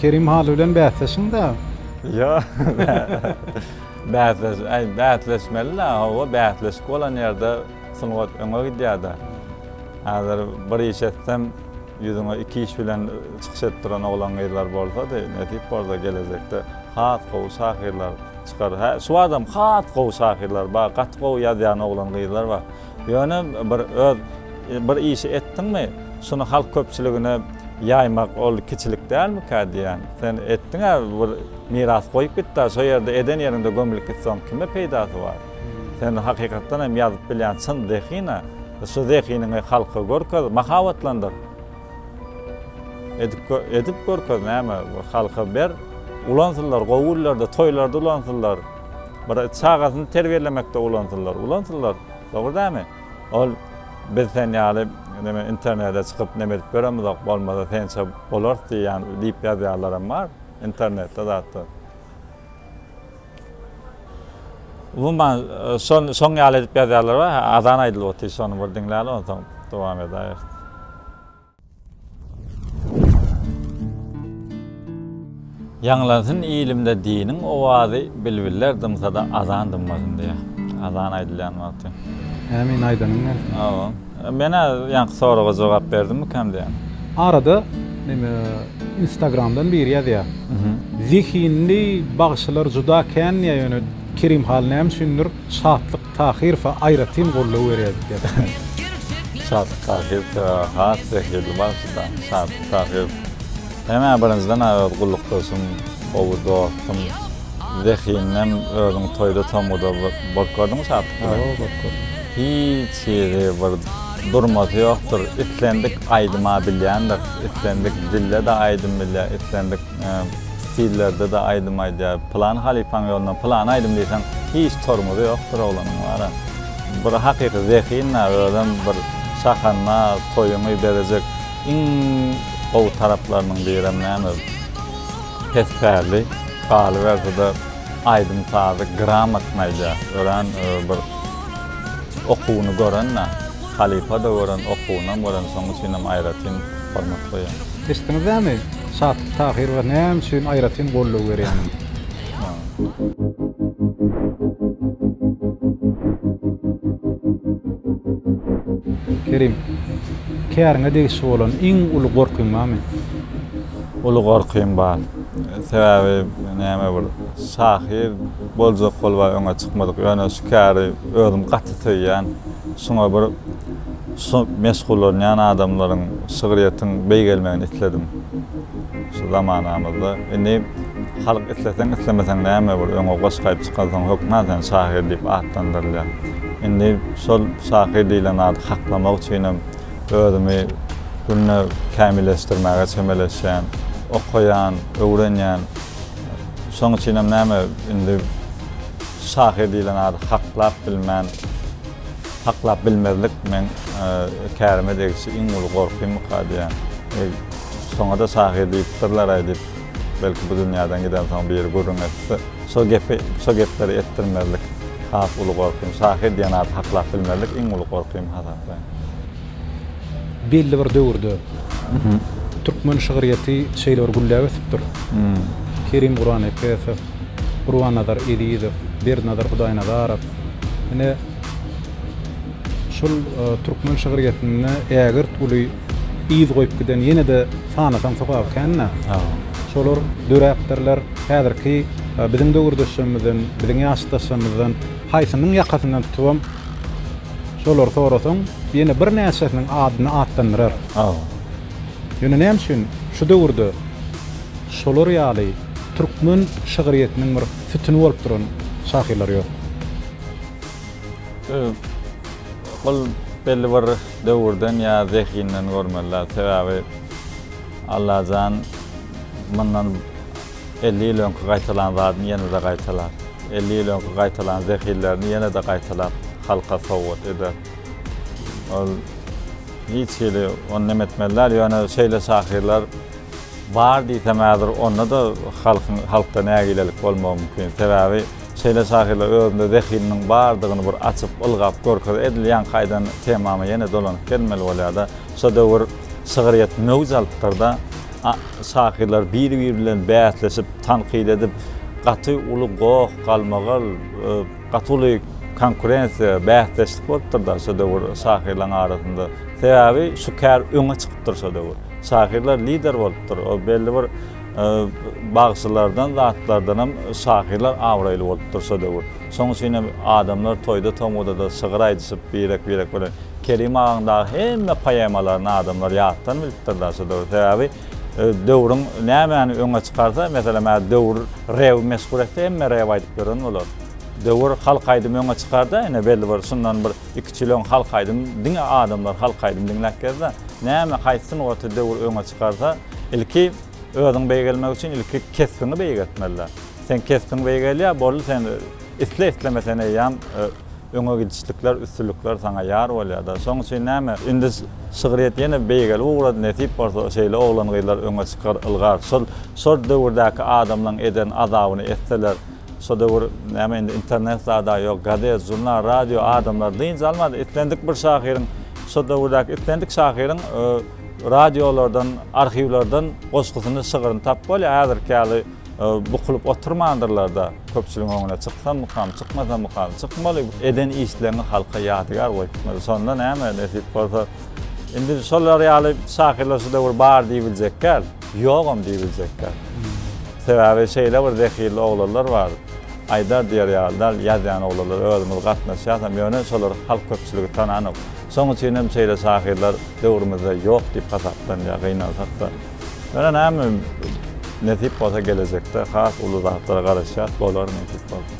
Kerim haly bilen bäsleşiň-dä! Ýok, bäsleş, äý, bäsleşmeli-dä, hawa, bäsleşik bolan ýerde sungat öňe gidýär-dä. Häzir bir iş etsem, ýüzüňe iki iş bilen çykyş edip duran oglan-gyzlar bolsady, nesip bolsa, gelejekde has gowy şahyrlar çykar. Hä, şu badam has gowy şahyrlar bar, gaty gowy ýazýan oglan-gyzlar bar. Ýöne bir öz bir işi etdiňmi, şuny halk köpçüligine ýaýmak ol kiçilik dälmikä diýýän. Sen etdiň-ä bir miras goýup gitdä, şo ýerde eden ýeriňde gömülip gitseň kime peýdasy bar. Sen hakykatdan hem ýazyp bilýän çyn zehin-ä. Şu zehiniňi halka görkez, mahabatlandyr. Edip edip görkez näme, halka ber. Ulansynlar, gowy günlerde, toýlarda ulansynlar. Bir çagasyny terbiýelemekde ulansynlar, ulansynlar. Dogry dälmi? Ol biz sen ýaly neme internede çykyp neme edip ýöremizok, bolmasa sençe bolarys diýýän diýip ýazýanlaram bar internetde zatda. Umuman şol şoň ýaly edip ýazýanlar bar. Azan aýdylyp otyr şony bir diňläli onsoň dowam edäýeris. Ýaňlansyn ilimde diniň owazy, Bilbiller dymsada azan dymmasyn diýýär. Azan aýdylýan wagty. Ämin aýdanyň gelsin. Hawa. Men-ä ýaňky soraga jogap berdimmikäm diýýän. Arada neme instagramdan biri ýazýar. Zehinli bagşylar juda kän diýýär ýöne Kerimhan näme üçindir şatlyk Tahyrowa aýratyn goldaw berýädik diýip aýtdy. Sadyk Tahyrow sebäbi has zehirli bagşyda. Sadyk Tahyrow Hemä birinjiden aýaz gullukdaşym gowy dostum zehininden özüň toýda tomuda bolup gördüňmi Sadyk bilen? Hawa bolup gördüm. Hiç hili bir durmasy ýokdur islendik aýdyma bilýändir islendik dilde-de aýdym bilýär islendik stillerde-de aýdym aýdýar. Pylan halypaň ýoluna pylan aýdym diýseň, hiç tormozy ýokdur oglanyň wara. Bir hakyky zehin-ä, özem bir şahanma toýuňy bezejek iň gowy taraplarynyň birem näme, pes pärli, galyberse-de aýdym-sazy gramatny aýdýar. Örän bir okuwyny gören-ä. Halypa-da gören, okuwynam gören, şoň üçinem aýratyn hormat goýýan. Eşitdiňizdämi, Şatyp Tahyrowa näme üçin aýratyn goldaw berýänin? Kerim, käriňe degişli bolan iň uly gorkyň barmy? Uly gorkym bar. Sebäbi näme bir şahyr boljak bolba öňe çykmadyk. Ýöne şu käri özüm gaty söýýän. Şuňa bir şu meşgullanýan adamlaryň şygryýetiň beýgelmegini isledim. Şu zamanamyzda indi halk isleseň islemeseň näme bir öňe goşgaýyp çykansoň hökman sen şahyr diýip atlandyrylýar. Indi şol şahyr diýlen ady haklamak üçinem özümi günde kämilleşdirmäge çemeleşýän, okaýan, öwrenýän. Şoň üçinem näme indi şahyr diýlen ady haklap bilmän, haklap bilmezlik meň kärime degişli iň uly gorkymyka diýýän. Şoňa-da şahyr diýipdirler-aý diýip, belki bu dünýäden gidensoň biri gürrüň etse, şo gepi, şo gepleri etdirmezlik has uly gorkym. Şahyr diýen ady haklap bilmezlik iň uly gorkym hasaplaýyn. belli bir döwürde türkmen şygyrýeti şeýle bir gülläp ösüpdir. Kerim Gurannepesow, Gurbannazar Ezizow, Berdinazar Hudaýnazarow. Ine, şol türkmen şygyrýetinde ägirt uly yz goýup giden ýene-de sanasaň sokaby kän-dä. Şolar döräpdirler. Häzirki biziň döwürdeşlerimizden, biziň ýaşdaşlarymyzdan Haýsynyň ýakasyndan tutubam şolary sorasaň, ýene birnäçesiniň adyny atlandyrar. Aw. Ýöne näme üçin şu döwürde şolar ýaly türkmen şygryýetiniň bir sütüni bolup duran şahyrlar ýok? Ol belli bir döwürden ýa zehinden görmeli-dä. Sebäbi Allajan mundan Elli ýyl öňki gaýtalan zadyny ýene-de gaýtalap, elli ýyl öňki gaýtalan zehillerini ýene-de gaýtalap halka sowgat eder. Ol hiç hili ony näme etmeli däl, ýöne şeýle şahyrlar bar diýsem häzir onda-da halkyň halkda nägilelik bolmagy mümkin. Sebäbi şeýle şahyrlar özünde zehininiň bardygyny bir açyp, ylgap görkezer. Edil ýaňky aýdan temama ýene dolanyp gelmeli bolýar-da, şu döwür şygryýet möwç alypdyr-da, Şahyrlar biri-biri bilen bäsleşip, tankyt edip, gaty uly goh, galmagal, gaty uly konkurensiýa, bäsdeşlik bolupdyr-da şo döwür şahyrlaryň arasynda. Sebäbi şu kär öňe çykypdyr şo döwür. Şahyrlar lider bolupdyr. Ol belli bir bagşylardan, zatlardanam şahyrlar abraýly bolupdyr şo döwür. Şonuň üçinem adamlar toýda-tomaza-da şygyr aýdyşyp, birek-birek bilen Kerim agaň dagy hemme poemalaryny adamlar ýatdan bilipdirler şu döwür. Sebäbi döwrüň nämäni öňe çykarsa, meselem, hä döwür rew meşhur etse, hemme rew aýdyp ýören bolar. Döwür halk aýdymy öňe çykarda, ine belli bir şundan bir iki üç ýyl öň halk aýdym diňe adamlar halk aýdym diňläp gezdi. Näme haýsy sungaty döwür öňe çykarsa, ilki özüň beýgelmek üçin ilki kesbiňi beýgeltmeliler. Seň kesbiň beýgelýär, boldy sen isle-islemesen eýýäm Öňe gidişlikler, üstünlikler saňa ýar bolýada. Şoň üçin näme, indi şygryýet ýene beýgeli ugra nesip bolsa şeýle oglan-gyzlar öňe çykar, ylgar. Şol, şol döwürdäki adamlaň eden azabyny etseler, şo döwür näme indi internet zada ýok, gazet, žurnal, radio adamlar dynç almady. Islendik bir şahyryň, şo döwürdäki islendik şahyryň radiolardan, arhiwlerden goşgusyny, şygryny tapyp bolýar. Häzirki ýaly. Bukulyp oturmandyrlar-da, köpçüligiň öňüne çyksammykam, çykmasammykam, çykmaly, eden işleriňiz halka ýadygär bolup gitmeli. Şonda näme, nesip bolsa, indi şolar ýaly şahyrlar şu döwür bar diýibiljek däl, ýogam diýibiljek däl. Sebäbi şeýle bir zehinli oglanlar bar, aýdar diýer ýaly däl, ýazýan oglanlar, özümiz gatnaşýasam, ýöne şolar halk köpçüligi tananok. Şonuň üçinem şeýle şahyrlar döwrümizde ýok diýip hasaplanýar, gynansak-da. Ýöne näme nesip bolsa gelejekde has uly zatlara garaşýas bolar nesip bolsa.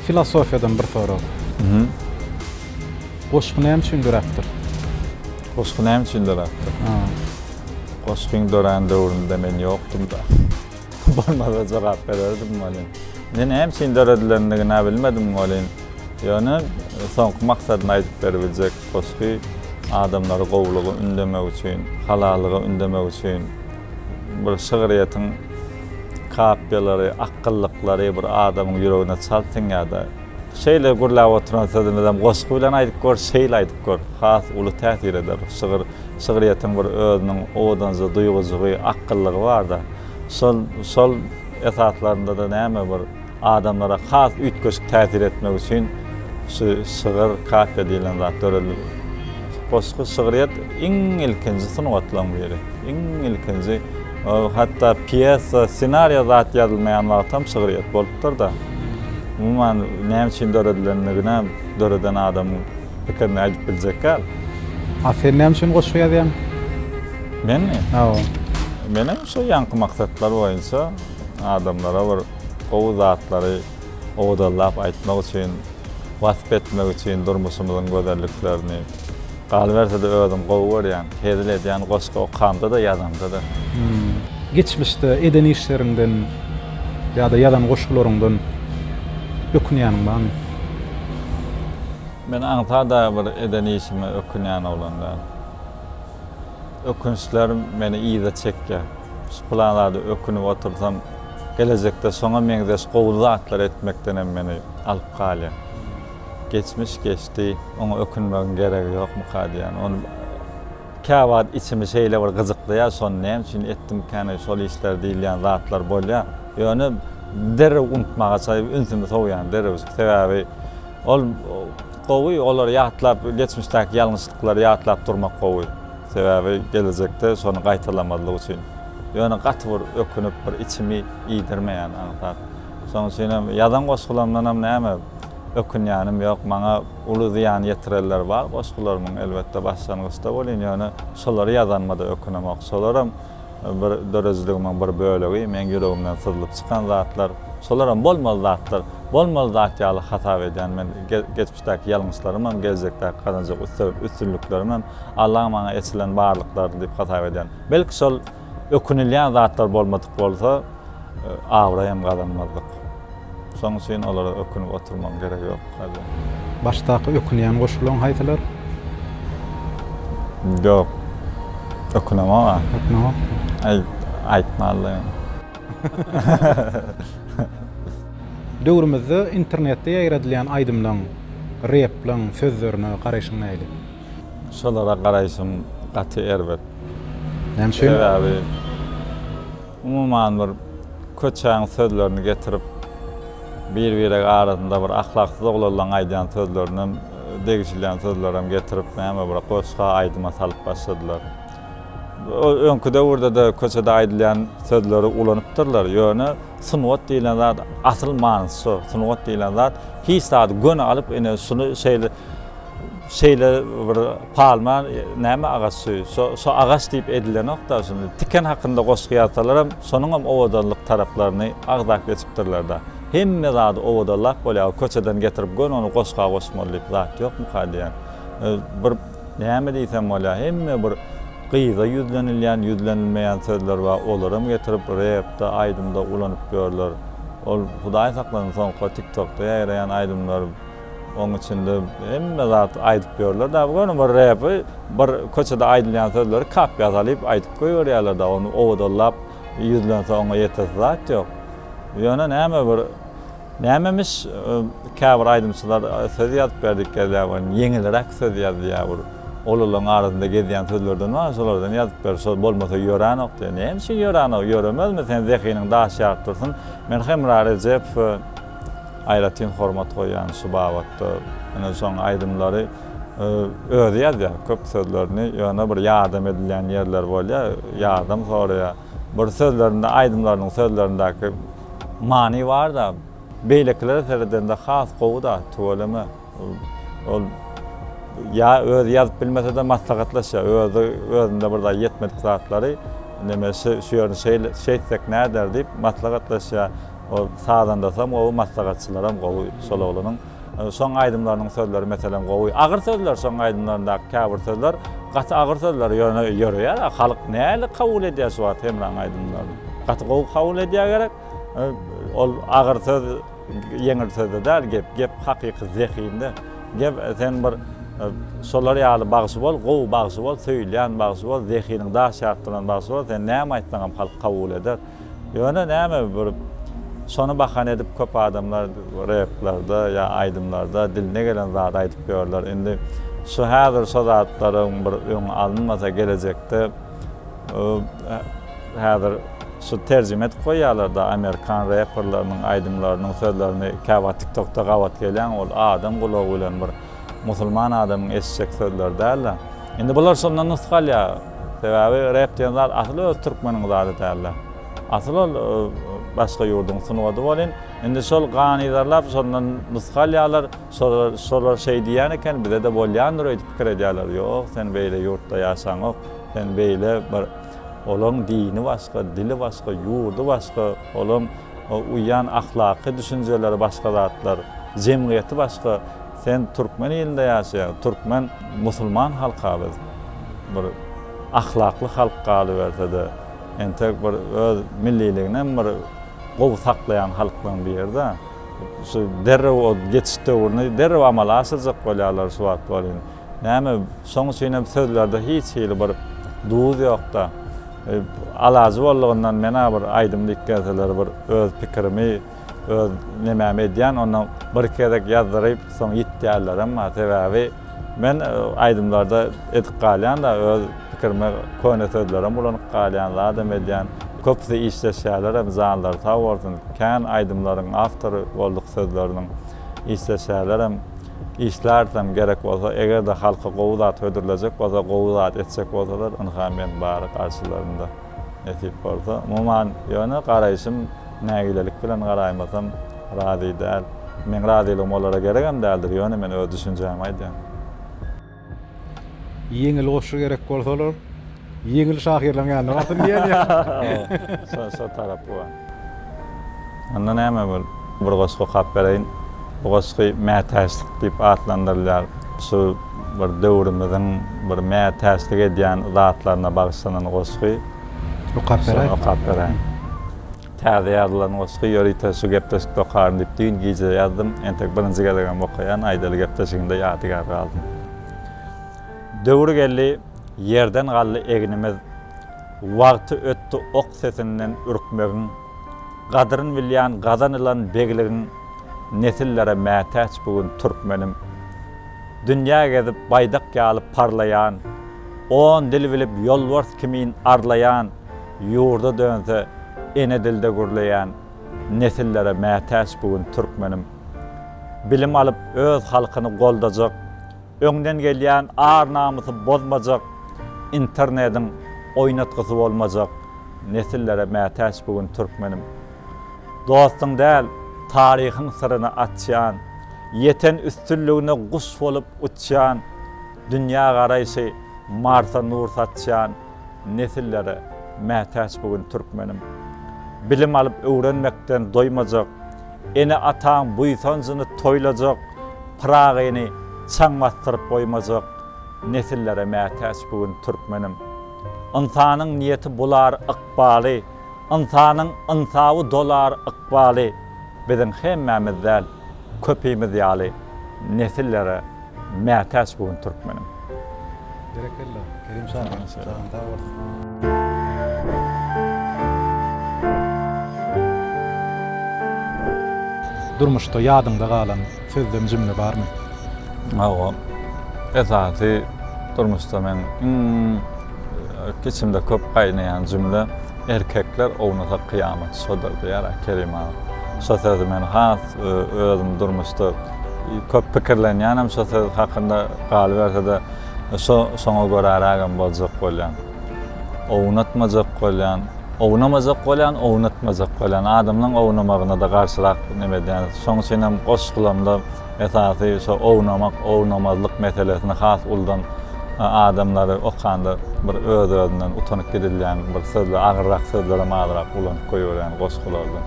Filosofiýadan bir sorag. Goşgy näme üçin döräpdir? Goşgy näme üçin döräpdir? Goşgyň dörän döwründe men ýokdum-da. Bolmasa jogap bererdim welin, indi näme üçin döredilendigini-ä bilmedim welin, ýöne soňky maksadyny aýdyp beribiljek goşgy adamlary gowulyga ündemek üçin, halallyga ündemek üçin bir şygryýetiň kapiýalary, akgyllyklary bir adamyň ýüregine çalt siňýär-de. Şeýle gürläp oturan sözümizem goşgy bilen aýdyp gör, şeýle aýdyp gör, has uly täsir eder. Şygyr Şygryýetiň bir özüniň owadanjy duýgujygy, akgyllygy barda. Şol, şol esaslarynda-da näme bir adamlara has üýtgeşik täsir etmek üçin şu şygyr, kafiýa diýlen zat döredilip. Goşgy, şygryýet iň ilkinji sungatlaryň biri. Iň ilkinji, ol hatda pýesa, ssenariýa zat ýazylmaýan wagtam şygryýet bolupdyr-da. Umuman, näme üçin döredilendigine döreden adamyň. pikirini aýdyp biljek ýaly. A sen näme üçin goşgy ýazýaň? Menmi? Hawa. Menem şu ýaňky maksatlar boýunça adamlara bir gowy zatlary owdallap aýtmak üçin, wasp etmek üçin durmuşymyzyň gözelliklerini. Galyberse-de özüm gowy görýän, hezil edýän goşgy okamda-da, ýazamda-da. Geçmişde eden işleriňden ýa-da ýazan goşgularyňdan ökünýäniň barmy? Men aňsat-a bir eden işime ökünýän oglan däl. Ökünçler meni yza çekýär. Şu pylan zada ökünip otursam, gelejekde şoňa meňzeş gowy zatlar etmekdenem meni alyp galýar. Geçmiş geçdi, oňa ökünmegiň geregi ýokmyka diýýän. Ony. Käwagt içimi şeýle bir gyjyklaýar, şony näme üçin etdimkäni şol işleri diýilýän zatlar bolýar. Ýöne derrew unutmaga çalyp, ünsümi sowýan derrew. Sebäbi ol gowy, olary ýatlap, geçmişdäki ýalňyşlyklary ýatlap durmak gowy. Sebäbi gelejekde şony gaýtalamazlyk üçin. Ýöne gaty bir ökünip, bir içimi iýdirmeýän aňsat. Şonuň üçinem ýazan goşgularymdanam näme ökünýänim ýok. Maňa. Uly zyýan ýetirenler bar goşgularymyň elbetde başlangyçda welin ýöne şolary ýazanyma-da ökünemok. Şolaram bir döredijiligimiň bir bölegi, meň ýüregimden syzlyp çykan zatlar. Şolaram bolmaly zatlar. Bolmaly zat ýaly hasap edýän men geçmişdäki ýalňyşlarymam, geljekdäki gazanjak üstünliklerimem Allaň maňa eçilen barlyklarydyr diýip hasap edýän. Belki şol Ökünilýän zatlar bolmadyk bolsa, abraý hem gazanmazdyk. Şonuň üçin olara ökünip oturmagyň geregi ýok hälde. Başdaky ökünýän goşgularyň haýsylar? Ýok. Ökünemok-a. Ökünemokmy? Aý, aýtman-la ýöne. Döwrümizde internetde ýaýradylýan aýdymlaryň, replaryň sözlerine garaýşyň nähili? Şolara garaýşym gaty erbet. Näme üçin? Sebäbi umuman bir köçäň sözlerini getirip bir-birek arasynda bir ahlaksyz oglanlaň aýdýan sözlerinden degişilýän sözlerem getirip näme bir goşga aýdyma salyp başladylar. Öňki döwürdede köçede aýdylýan sözleri ulanypdyrlar. Ýöne sungat diýilen zat asyl manysy şo. Sungat diýilen zat hiç zady göni alyp ine şuny şeýle Şeýle bir palma näme agaç şu, şo agaç diýip edilenok-da, şuny tiken hakynda goşgy ýazsalaram, şonuňam owadanlyk taraplaryny agzap geçipdirler-de. Hemme zady owadanlap bolýar, köçeden getirip göni ony goşga goşmaly diýip zat ýokmuka diýýän. Bir näme diýsem bolýar, hemme bir gyza ýüzlenilýän, ýüzlenilmeýän sözler bar, olaram getirip repde, aýdymda ulanyp ýörler. Ol Hudaý saklasyn soňky tiktokda ýaýraýan aýdymlar. Oň içinde hemme zat aýdyp ýörler da göni bir repi bir köçede aýdylýan sözleri kapga salyp aýdyp goýberýärler da ony owadallap ýüzlense oňa ýetesi zat ýok. Ýöne näme bir nämemiş käbir aýdymçylar söz ýazyp berdik gezläp welin ýeňilräk söz ýazýar bir olulaň arasynda gezýän sözlerden bar şolardan ýazyp ber şol bolmasa ýöränok diýýär. Näme üçin ýöränok ýöremezmi sen zehiniň daş ýaryp dursun men Hemra Rejepowy aýratyn hormat goýýan şu babatda. Ine şoň aýdymlary özi ýazýar köp sözlerini ýöne bir ýardam edilýän ýerleri bolýar ýardam soraýar bir sözlerinde aýdymlarynyň sözlerindäki many barda beýlekilere seredende has gowyda tüweleme. Ol ýa özi ýazyp bilmese-de maslahatlaşýar. Özi özünde bir zat ýetmedik zatlary neme şu ýerini şeýle şeýtsek näder diýip maslahatlaşýar. Ol sazandasy hem gowy, maslahatçylary hem gowy şol oglanyň. Şoň aýdymlarynyň sözleri meselem gowy. Agyr sözler şoň aýdymlaryndaky käbir sözler gaty agyr sözler ýöne ýöreýär. Halk nähili kabul edýär şu wagt Hemraň aýdymlaryny? Gaty gowy kabul edýär gerek. Ol agyr söz Ýeňil sözde däl gep, gep hakyky zehinde. Gep sen bir şolar ýaly bagşy bol, gowy bagşy bol, söýülýän bagşy bol, zehiniň daş ýatdyran bagşy bol, sen näme aýtsaňam halk kabul eder. Ýöne näme bir şony bahana edip köp adamlar replarda ýa aýdymlarda diline gelen zady aýdyp ýörler. Indi şu häzir şo zatlaryň bir öňi alynmasa gelejekde Häzir şu terjime edip goýýarlarda amerikan reperleriniň aýdymlarynyň sözlerini käwagt tiktokda gabat gelýän ol adam gulagy bilen bir musulman adamyň eşitjek sözleri dälda. Indi bular şondan nusga alýa sebäbi rep diýen zat asyl öz türkmeniň zady dälda. Asyl ol başga ýurduň sungady bolyn. Indi şol ganyzarlap şondan nusga alýarlar. Şolar, şolar şeý diýýän eken, bize-de bolýandyr öýdüp pikir edýärler. Ýok, sen beýle ýurtda ýaşaňok. Sen beýle bir, olaň dini başga, dili başga, ýurdy başga, olaň uýýan ahlaky düşünjeleri başga zatlar, jemgyýeti başga. Sen türkmen ilinde ýaşaýaň, türkmen musulman halk-a biz. Bir ahlakly halk galyberse-de, entek bir öz milliliginem bir gowy saklaýan halklaryň biri-dä. Şu derrew o geçiş döwrüni derrew amala aşyrjak bolýarlar şu wagt welin. Näme, şoň üçin hem sözlerde hiç hili bir duz ýok-da. Alajy boldugyndan men-ä bir aýdym diýip gelseler bir öz pikirimi, öz nemämi edýän, ondan birki gezek ýazdyryp, soň ýitýärlerem bar. Sebäbi men aýdymlarda edip galýan-da, öz pikirimi köne sözlerem ulanyp galýan, zadam edýän. Köpüsi işleşýärlerem janlary sag bolsun kän aýdymlaryň awtory bolduk sözleriniň işleşýärlerem işlärisem gerek bolsa egerde halka gowy zat hödürlejek bolsa gowy zat etjek bolsalar ynha men bar garşylarynda nesip bolsa umuman ýöne garaýşym nägilelik bilen garaýmasam razy däl meň razylygym olara geregem däldir ýöne men öz düşünjämi aýdýan. Ýeňil goşgy gerek bolsalar, ýeňil şahyrlaryň ýanynda barsyn diýen ýa. Şo tarap bu. Onda näme bol, bir goşgy okap bereýin. Bu goşgy mätäçlik diýip atlandyrylýar. Şu bir döwrümiziň bir mätäçlik edýän zatlaryna bagyşlanan goşgy. Okap beräýin. Şony okap beräýin. Täze ýazylan goşgy ýörite şu gepleşik dokaryn diýip düýn gije ýazdym. Entek birinji gezegem okaýan, aýdaly gepleşigimde ýadygär galdym. Döwür geldi, ýerden galdy egnimiz, Wagty ötdi ok sesinden ürkmegiň, Gadryn bilýän gazanylan begligiň, Nesillere mätäç bu gün türkmenim. Dünýä gezip baýdak ýaly parlaýan, On dil bilip ýolbars kimin arlaýan, Ýurda dönse ene dilde gürleýän nesillere mätäç bu gün türkmenim. Bilim alyp öz halkyny goldajak, öňden gelýän ar-namysy bozmajak, internediň oýnatgysy bolmajak nesillere mätäç bu gün türkmenim. Dostuň däl, taryhyň syryny açýan, ýeten üstünligine guş bolup uçýan, dünýä garaýşy Marsa nur saçýan, Nesillere mätäç bu gün türkmenim. Bilim alyp öwrenmekden doýmajak, Ene-ataň buýsanjyny toýlajak, Pyragyny çaň basdyryp goýmajak, Nesillere mätäç bu gün türkmenim. Ynsanyň niýeti bular ykbaly, Ynsanyň ynsaby dolar ykbaly, Biziň hemmämiz däl, köpimiz ýaly, Nesillere Mätäç bu gün türkmeniň. Berekella, Kerim şa. Janyň sag bolsun. Durmuşda ýadyňda galan sözlem jümle barmy? Hawa. Esasy durmuşda meň iň içimde köp gaýnaýan jümle. Erkekler ownasa kyýamat şodur diýer-ä Kerim aga. Şo sözi men has özüm durmuşda köp pikirlenýänem şo söz hakynda galyberse-de şo şoňa görärägem boljak bolýan. Ownatmajak bolýan, ownamajak bolýan, ownatmajak bolýan. Adamlaň ownamagyna-da garşyrak neme edýän. Şoň üçinem goşgulamda Esasy şo ownamak, ownamazlyk meselesini has uludan adamlary okanda bir öz-özünden utanyp gidilýän bir sözler, agyrrak sözlerem azrak ulanyp goýberýän goşgularda.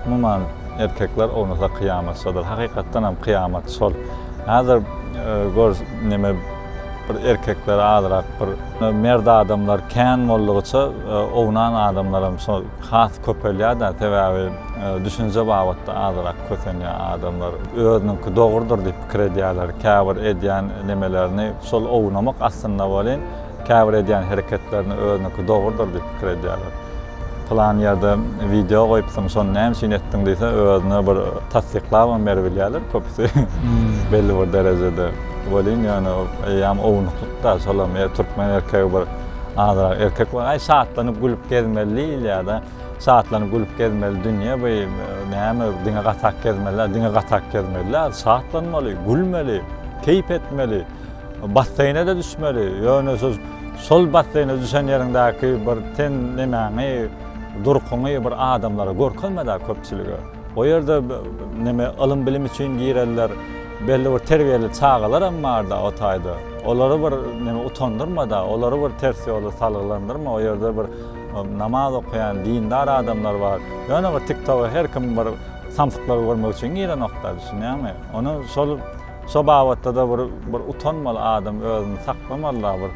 Umuman, erkekler ownasa kyýamat şodur. Hakykatdanam kyýamat şol. Häzir gör neme. Bir erkekler azrak bir merd adamlar kän boldugyça ownan adamlaram şol has köpelýäda sebäbi düşünje babatda azrak kösenýä adamlar özüniňki dogrudyr diýip pikir edýäler käbir edýän nemelerini şol ownamak aslynda welin käbir edýän hereketlerini özüniňki dogrudyr diýip pikir edýäler. Pylan ýerde wideo goýupsyň, şony näme üçin etdiň diýse, özüne bir tassyklabam beribilýärler köpüsi. Belli bir derejede welin, ýöne eýýäm ownuklyk-da, şolam türkmen erkegi bir azyrak erkek bolup, aý şatlanyp gülüp gezmeli diýilýär-de, şatlanyp gülüp gezmeli dünýe bu näme, diňe gatak gezmeli däl, diňe gatak gezmeli däl, şatlanmaly, gülmeli, keýp etmeli. Basseýne-de düşmeli, ýöne siz şol basseýne düşen ýeriňdäki bir sen nemäňi, durkuňy bir adamlara görkezme-dä, köpçülige. O ýerde neme, ylym-bilim üçin girenler, belli bir terbiýeli çagalaram bar-da o taýda. Olary bir neme, utandyrma-da, olary bir ters ýola salgylandyrma, o ýerde bir namaz okaýan dindar adamlar bar. Ýöne bir TikTok-a her kim bir samsyklary görmek üçin girenok-da, düşünýäňmi? Ony şol. Şo babatda-da bir bir utanmaly adam özüni saklamaly-da bir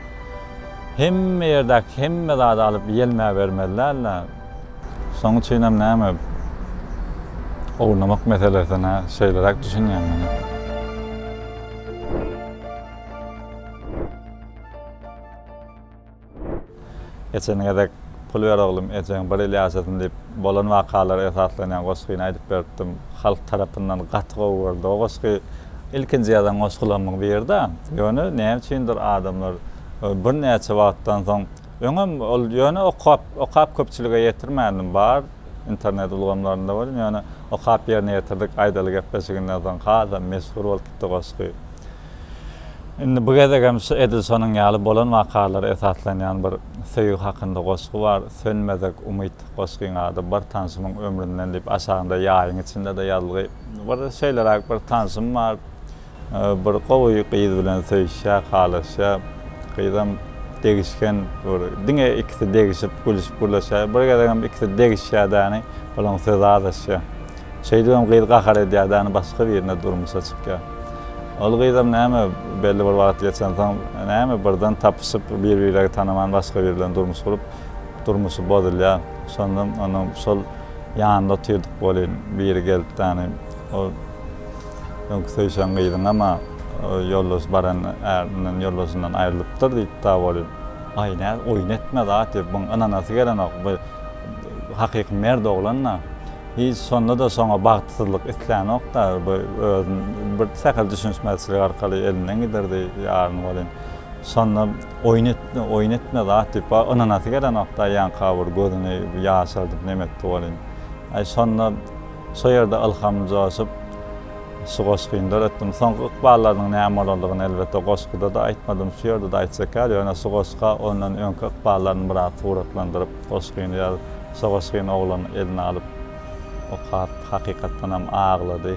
hemme ýerdäki hemme zady alyp ýelmäbermeli däl-de. Şoň üçinem näme ownamak meselesine şeýleräk düşünýän men. Geçen gezek Pul ber oglum, ejeň bir ýyl ýaşasyn diýip, bolan wakalara esaslanýan goşgyny aýdyp beripdim. Halk tarapyndan gaty gowy görüldi. O goşgy ilkinji ýazan goşgularymyň biri-dä. Ýöne näme üçindir adamlar birnäçe wagtdan soň, öňem ol ýöne okap, okap köpçülige ýetirmändim. Bar internet ulgamlarynda welin, ýöne okap ýerine ýetirdik aýdaly gepleşiginden soň hasam meşhur bolupdy goşgy. Indi bu gezegem şu Edisonyň ýaly bolan wakalara esaslanýan bir söýgi hakynda goşgy bar. Sönmezek umyt goşgyň ady. Bir tanşymyň ömründen diýip aşagynda ýaýyň içinde-de ýazylgy. Bir şeýleräk bir tanşym bar. Bir gowy gyz bilen söýüşýär, halaşýar. Gyzam degişgen bir. Diňe ikisi degişip, gülüşip gürleşýär. Bir gezegem ikisi degişýär-däni, olaň sözi azaşýar. Şeýdip hem gyz gahar edýär-de, başga birine durmuşa çykýar. Ol gyzam näme, belli bir wagt geçensoň, näme, birden tapyşyp, bir-biregi tanaman başga biri bilen durmuş gurup, durmuşy bozulýar. Şonda onuň şol ýanynda otyrdyk welin, biri gelip, ol öňki söýşen gyzyňam-a ýoldaş baran ärinden, ýoldaşyndan aýrylypdyr diýipd-ä welin. Aý, nä oýun etme zat, diýip, muň ynanasy gelenok. Bu hakyky mert oglan-da. Hiç şonda-da şoňa bagtsyzlyk islänokda, bu özüni bir sähel düşünişmezçilik arkaly elinden giderdi ýaryny welin, şonda oýun etme, oýun etme zat diýip, ba ynanasy gelenokda ýaňka bir gözüni ýaşardyp neme etdi welin, aý şonda şo ýerde ylhamym joşup, şu goşgyny döretdim. Soňky ykballarynyň näme bolandygyny elbetde goşguda-da aýtmadym, şu ýerde-de aýtjak ýaly, ýöne şu goşga ondan öňki ykballaryny biraz suratlandyryp, goşgyny ýazyp. Sogasgyn oglany eline alyp okap, hakykatdanam aglady.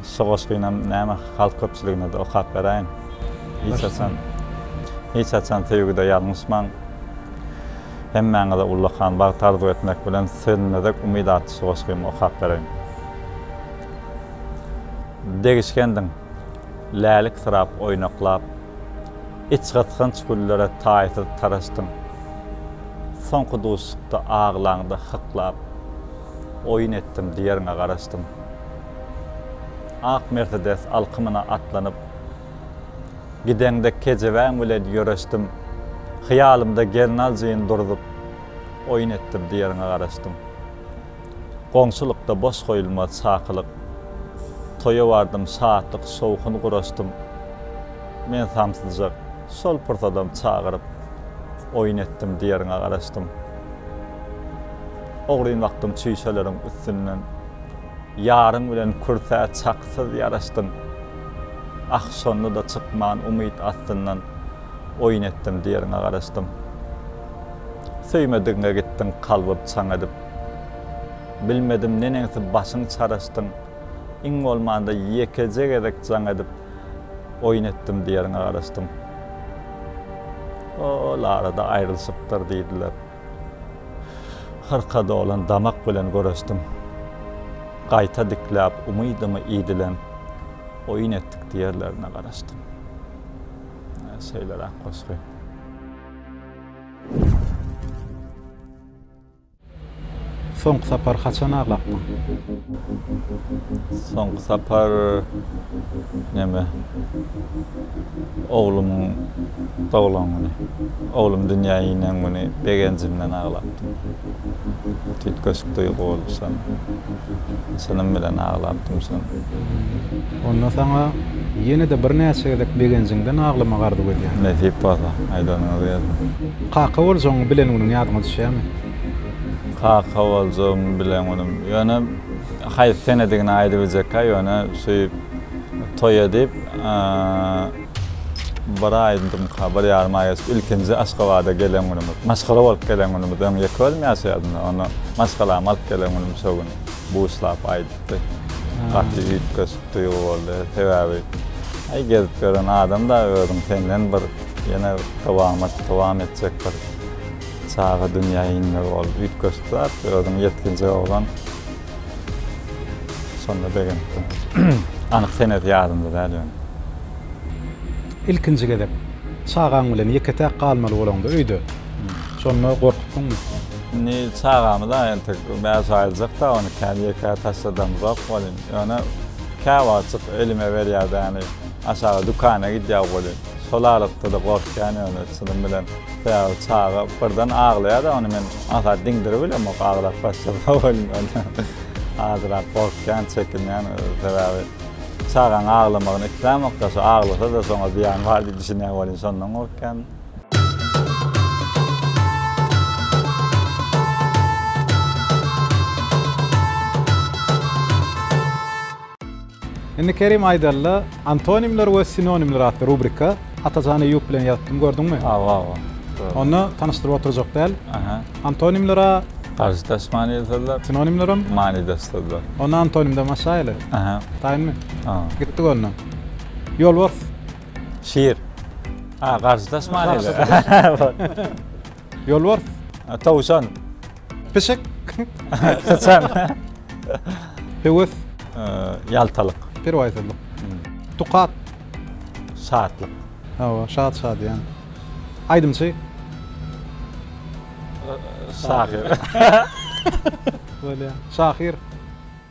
Sogasgynam näme, halk köpçüligine-de okap beräýiň. Hiç haçan, hiç haçan söýgüde ýalňyşmaň. Hemmäňize ullakan bagt arzuw etmek bilen, Sönmezek umyt atly sogasgymy okap bereýin. Degişgendiň, läliksirap oýnaklap. Içgysgynç güllere taýsyz taraşdyň. Soňky duşuşykda aglaňda hyklap, Oýun etdim diýeriňe garaşdym. Ak Mersedes alkymyna atlanyp, Gideňde kejebäň bilen ýöreşdim. Hyýalymda gelnaljyn durzup, Oýun etdim diýeriňe garaşdym. Goňşulykda boş goýulmaz çakylyk, Toýa bardym, şatlyk, şowhun guraşdym. Men samsyljak, şol pursadam çagyryp, Oýun etdim, diýeriňe garaşdym. Ogryn bakdym çüýşeleriň üstünden, Ýaryň bilen kürsä çaksyz ýaraşdyň. Ah, şonda-da çykman umyt astyndan, Oýun etdim, diýeriňe garaşdym. Söýmedigiňe gitdiň kalbyp, çaň edip, Bilmedim neneňsi başyň çaraşdyň, iň bolmanda ýekeje gezek jaň edip oýun etdim diýeriňe garaşdym. Ol arada aýrylyşypdyr diýdiler. Hyrka dolan damak bilen göreşdim. Gaýta dikläp umydymy iýdilen oýun etdik diýerlerine garaşdym. Şeýleräk goşgy. Soňky sapar haçan aglapdyň? Soňky sapar näme? Oglumyň doglan güni. Oglum dünýä inen güni begenjimden aglapdym. Tüýtgeşik duýgy bolup şon. Çynym bilen aglapdym şon. Onda saňa ýene-de birnäçe gezek begenjiňden aglamak arzuw edýän. Nesip bolsa, aýdanyňyz gelsin. Kaka boljagyňy bilen günüň ýadyňa düşýärmi? Kaka boljagyňy bilen günüm. Ýöne haýsy senedigini aýdyp biljekka ýöne söýüp toý edip bir aýdymka bir ýarym aý geçip ilkinji Aşgabada gelen günümiz. Maşgala bolup gelen günümiz öň ýeke özüm ýaşaýardymda onda maşgalamy alyp gelen günüm şo gün buşlap aýdypdy. Gaty üýtgeşik duýgy boldy sebäbi aý gezip ýören adamda özüň senden bir Ýene dowamat dowam etjek bir çaga dünýä inmegi ol üýtgeşik zat. Özüň ýetginjek oglan. Şonda begenipdim. Anyk senesi ýadymda däl ýöne. Ilkinji gezek çagaň bilen ýeke-täk galmaly bolaňda öýde. Şonda gorkupdyňmy? Indi çagamy-da entek bäş aýlyjak-da ony kän ýeke taşladamyzok welin, ýöne käwagtjyk elime berýär däni, aşaga dükana gidýär welin. Şol aralykda-da gorkýan ýöne çynym bilen. Sebäbi çaga birden aglaýar-da, ony men asa diňdirip bilemok, aglap başlasa welin ony azrak gorkýan, çekinýän. Sebäbi çagaň aglamagyny islämok-da, şo aglasa-da şoňa zyýan bar diýip düşünýän welin şondan gorkýan. Indi Kerim aýdalla antonimler we sinonimler atly rubrika Atajan Eýýup bilen ýazypdym gördüňmi? Hawa hawa. Onda tanyşdyryp oturjak däl. Aha. Antonimler a. Garşydaş manyly sözler. Sinonimler hem. Manydaş sözler. Onda antonimden başlaýaly. Aha. Taýynmy? Aha. Gitdik onda. Ýolbars. Şir. A garşydaş manyly. Ýolbars. Towşan. Pişik. Syçan. Höwes. Ýaltalyk. Perwaýsyzlyk. Tukat. Şatlyk. Hawa, şat şadyýan. Aýdymçy. Şahyr. Bolýar. Şahyr.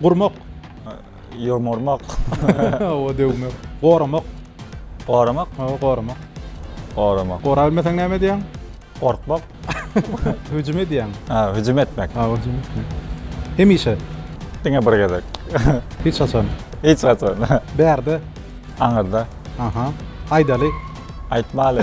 Gurmak. Ýomurmak. Oba döwmek. Goramak. Goramak? Hawa, goramak. Goramak. Gorap bilmeseň näme edýäň? Gorkmak. Hüjüm edýäň. Ha, hüjüm etmek. Ha, hüjüm etmek. Hemişe. Diňe bir gezek. Hiç haçan. Hiç haçan. Bärde. Aňyrda. Aha. Aýdaly. Aýtmaly.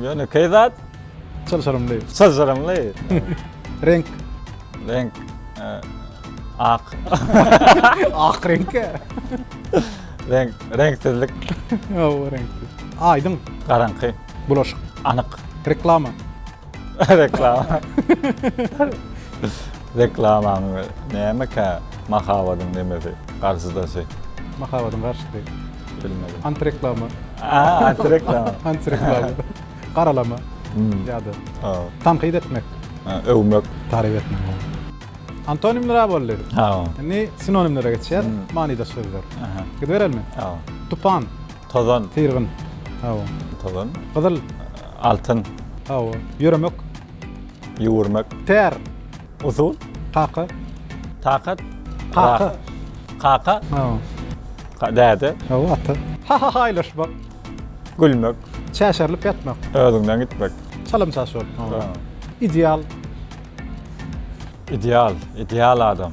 Ýöne keý zat. Çylşyrymly. Çylşyrymly. Renk. Renk. Ak. Ak renk. Renk. Renksizlik. Ýow, renksiz. Aýdyň. Garaňky. Bulaşyk. Anyk. Reklama. Reklama. Reklamaň nämekä mahabadyň nemesi, garşydasy. Mahabadyň garşysy. Bilmedim. Antireklama. Aa, antireklama. antireklama. Garalama. Hmm. Ya da. Aa. Tankyt etmek. Ha, övmek. Tarif etmek. Antonimler ha boldy. Ha. Indi sinonimlere geçýär. Hmm. Manyda sözler. Aha. Gidiberelim. Ha. Tupan. Tozan. Tirgin. Ha. Tozan. Gyzyl. Altyn. Ha. Yürümek. Yuwurmak. Ter. Usul. Kaka. Takat. Kaka. Kaka. Ha. Däde. Ha, ata. Ha ha haýlaşmak. Gülmek. Çäşerilip ýatmak. Özüňden gitmek. Çalym çaş bolup. Ideal. Ideal, ideal adam.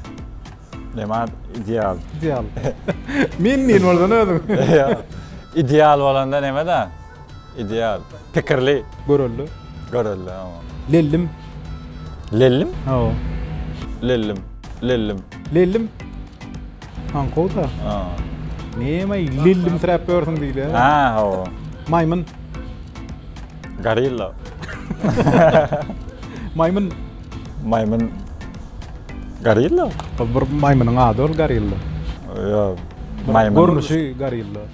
Näme ideal? Ideal. Min-min boldan özüň. Ideal bolanda näme-dä? Ideal. Pikirli. Görelde. Görelde, hawa. Lellim. Lellim? Hawa. Lellim. Lellim. Lellim. Aňkawda. Ha. Näme lellim tiräp ýörsiň diýdi. Ha, hawa. Maýmyn. Gorilla. Maýmyn. Maýmyn. Gorilla. Bir maýmynyň ady ol gorilla. Ýok. Maýmyn. Görnüşi gorilla.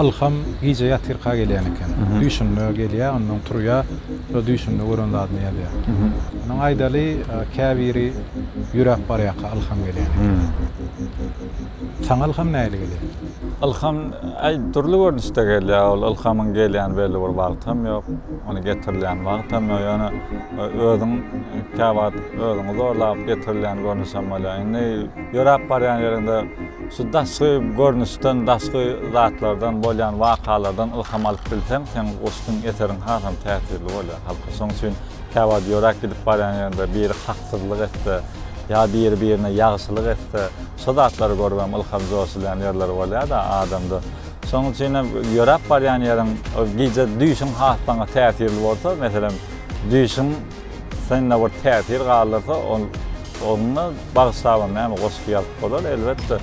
Ylham gije ýatyrka gelýän eken. Düýşünde gelýär, onnoň turýar, şo düýşünde gören zadyny ýazýar. Onuň aýdaly, käbiri ýöräp barýarka ylham gelýän eken. Saňa ylham nähili gelýär? Ylham, äý, dürli görnüşde gelýär. Ol ylhamyň gelýän belli bir wagty hem ýok, ony getirilýän wagty hem ýok. Ýöne özüň käwagt özüňi zorlap getirilýän görnüşem bolýar. Indi ýöräp barýan ýeriňde. Şu daşky görnüşden, daşky zatlardan, bolýan wakalardan ylham alyp bilseň, seň goşgyň, eseriň hasam täsirli bolýar halka. Şoň üçin käwagt ýöräp gidip barýan ýerinde biri haksyzlyk etse, ýa biri birine ýagşylyk etse, şo zatlary görüp hem ylham joşulýan ýerler bolýar-da adamda. Şoň üçin hem ýöräp barýan ýeriň, gije düýşüň has saňa täsirli bolsa, meselem, düýşüň, Synda bir täsir galdyrsa, onda bagyşlabam näme goşgy ýazyp bolar, elbetde.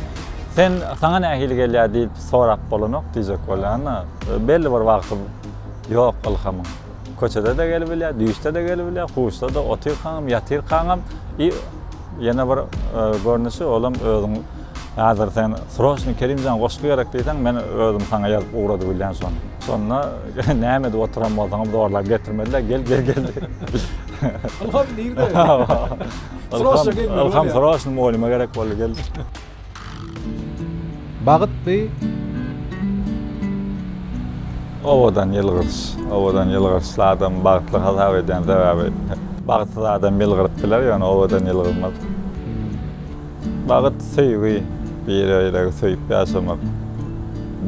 Sen, saňa nähili gelýär diýip sorap bolanok diýjek bolýan-da. Belli bir wagty ýok ylhamyň. Köçede-de gelibilýär, düýşde-de gelibilýär, huşda-da, otyrkaňam, ýatyrkaňam i ýene bir görnüşi, olam özüň häzir sen sroçno Kerimjan goşgy gerek diýseň, men özüm saňa ýazyp ugradybilýän şony. Şonda näme edip oturan bolsaňam zorlap getirmediler. Gel gel gel. Ilham nirde? Sroşna gelmeli. Ilham sroşna mugallyma gerek boldy gel. Bagytly Owadan ýylgyrç, owadan ýylgyrçly adamy bagtly hasap edýän sebäbi bagtsyz adam ýylgyryp biler, ýöne owadan ýylgyrmaz. Bagt söýgi, bir-biregi söýüp ýaşamak,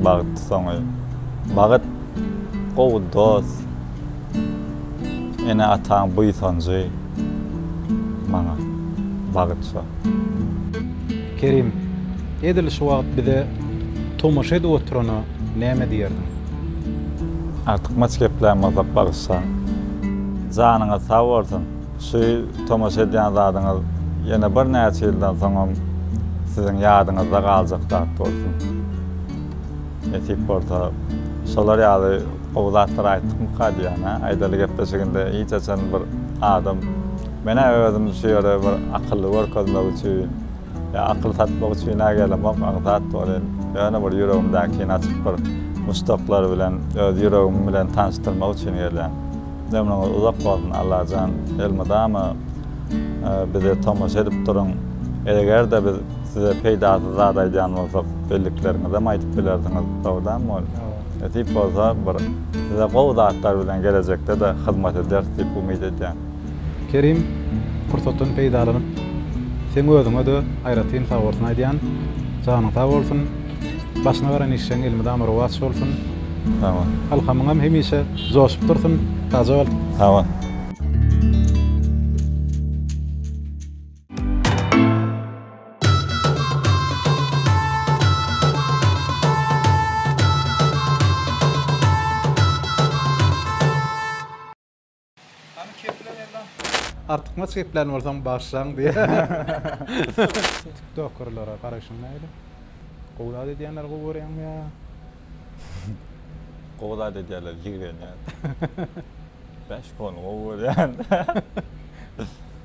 bagt soňy, bagt, gowy dost, ene-ataň buýsanjy, maňa bagt şo. Kerim, edil şu wagt bize tomaşa edip oturana näme diýerdiň? Artykmaç gepläň bolsa bagyşlaň. Janyňyz sag bolsun, Şu tomaşa edýän zadyňyz ýene birnäçe ýyldan soňam siziň ýadyňyzda galjak zat bolsun. Nesip bolsa, şolar ýaly gowy zatlar aýtdykmyka diýýän-ä. Aýdaly gepleşiginde hiç haçan bir adam Men-ä özüm şu ýere bir akylly görkezmek üçin ýa akyl satmak üçin-ä gelemok, aňsat bolyn, ýöne bir ýüregimdäkini açyp bir muşdaklary bilen öz ýüregim bilen tanyşdyrmak üçin gelýän. Ömrüňiz uzak bolsun Allajan elmydama bize tomaşa edip duruň egerde biz size peýdasyz zat aýdýan bolsak bellikleriňizem aýdyp bilersiňiz sowda mol nesip bolsa bir size gowy zatlar bilen gelejekdede hyzmat ederis diýip umyt edýän. Kerim pursatdan peýdalanyp seň özüňede aýratyn sagbolsun aýdýan janyň sag bolsun. Başyna baran işleň elmydama rowaç bolsun. Sag bol. Alhamyňam hemişe joşup dursun. Sagja bol. Sag bol. Hany kepler Erdogan? Artykmaç geplän bolsaň bagyşlaň diýýär. Tiktokerlara garaýşyň nähili? Gowy zat edýänleri gowy görýäňmi ýa? Gowy zat edýärler, jigrenýän. Ben şpony gowy görýän.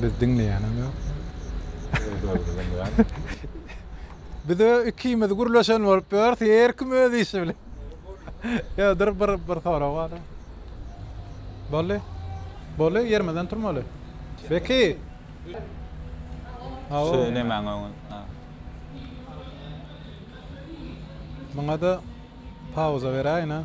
Biz diňleýänem ýok. Biz ö ikimiz gürleşen bolup ýörüs, her kim öz işi bilen. Ýa dur bir bir sorag bar. Bolly. Bolly ýerimizden turmaly. Beki. Söylemäň öňe. Muňa da pauza beräýin ha.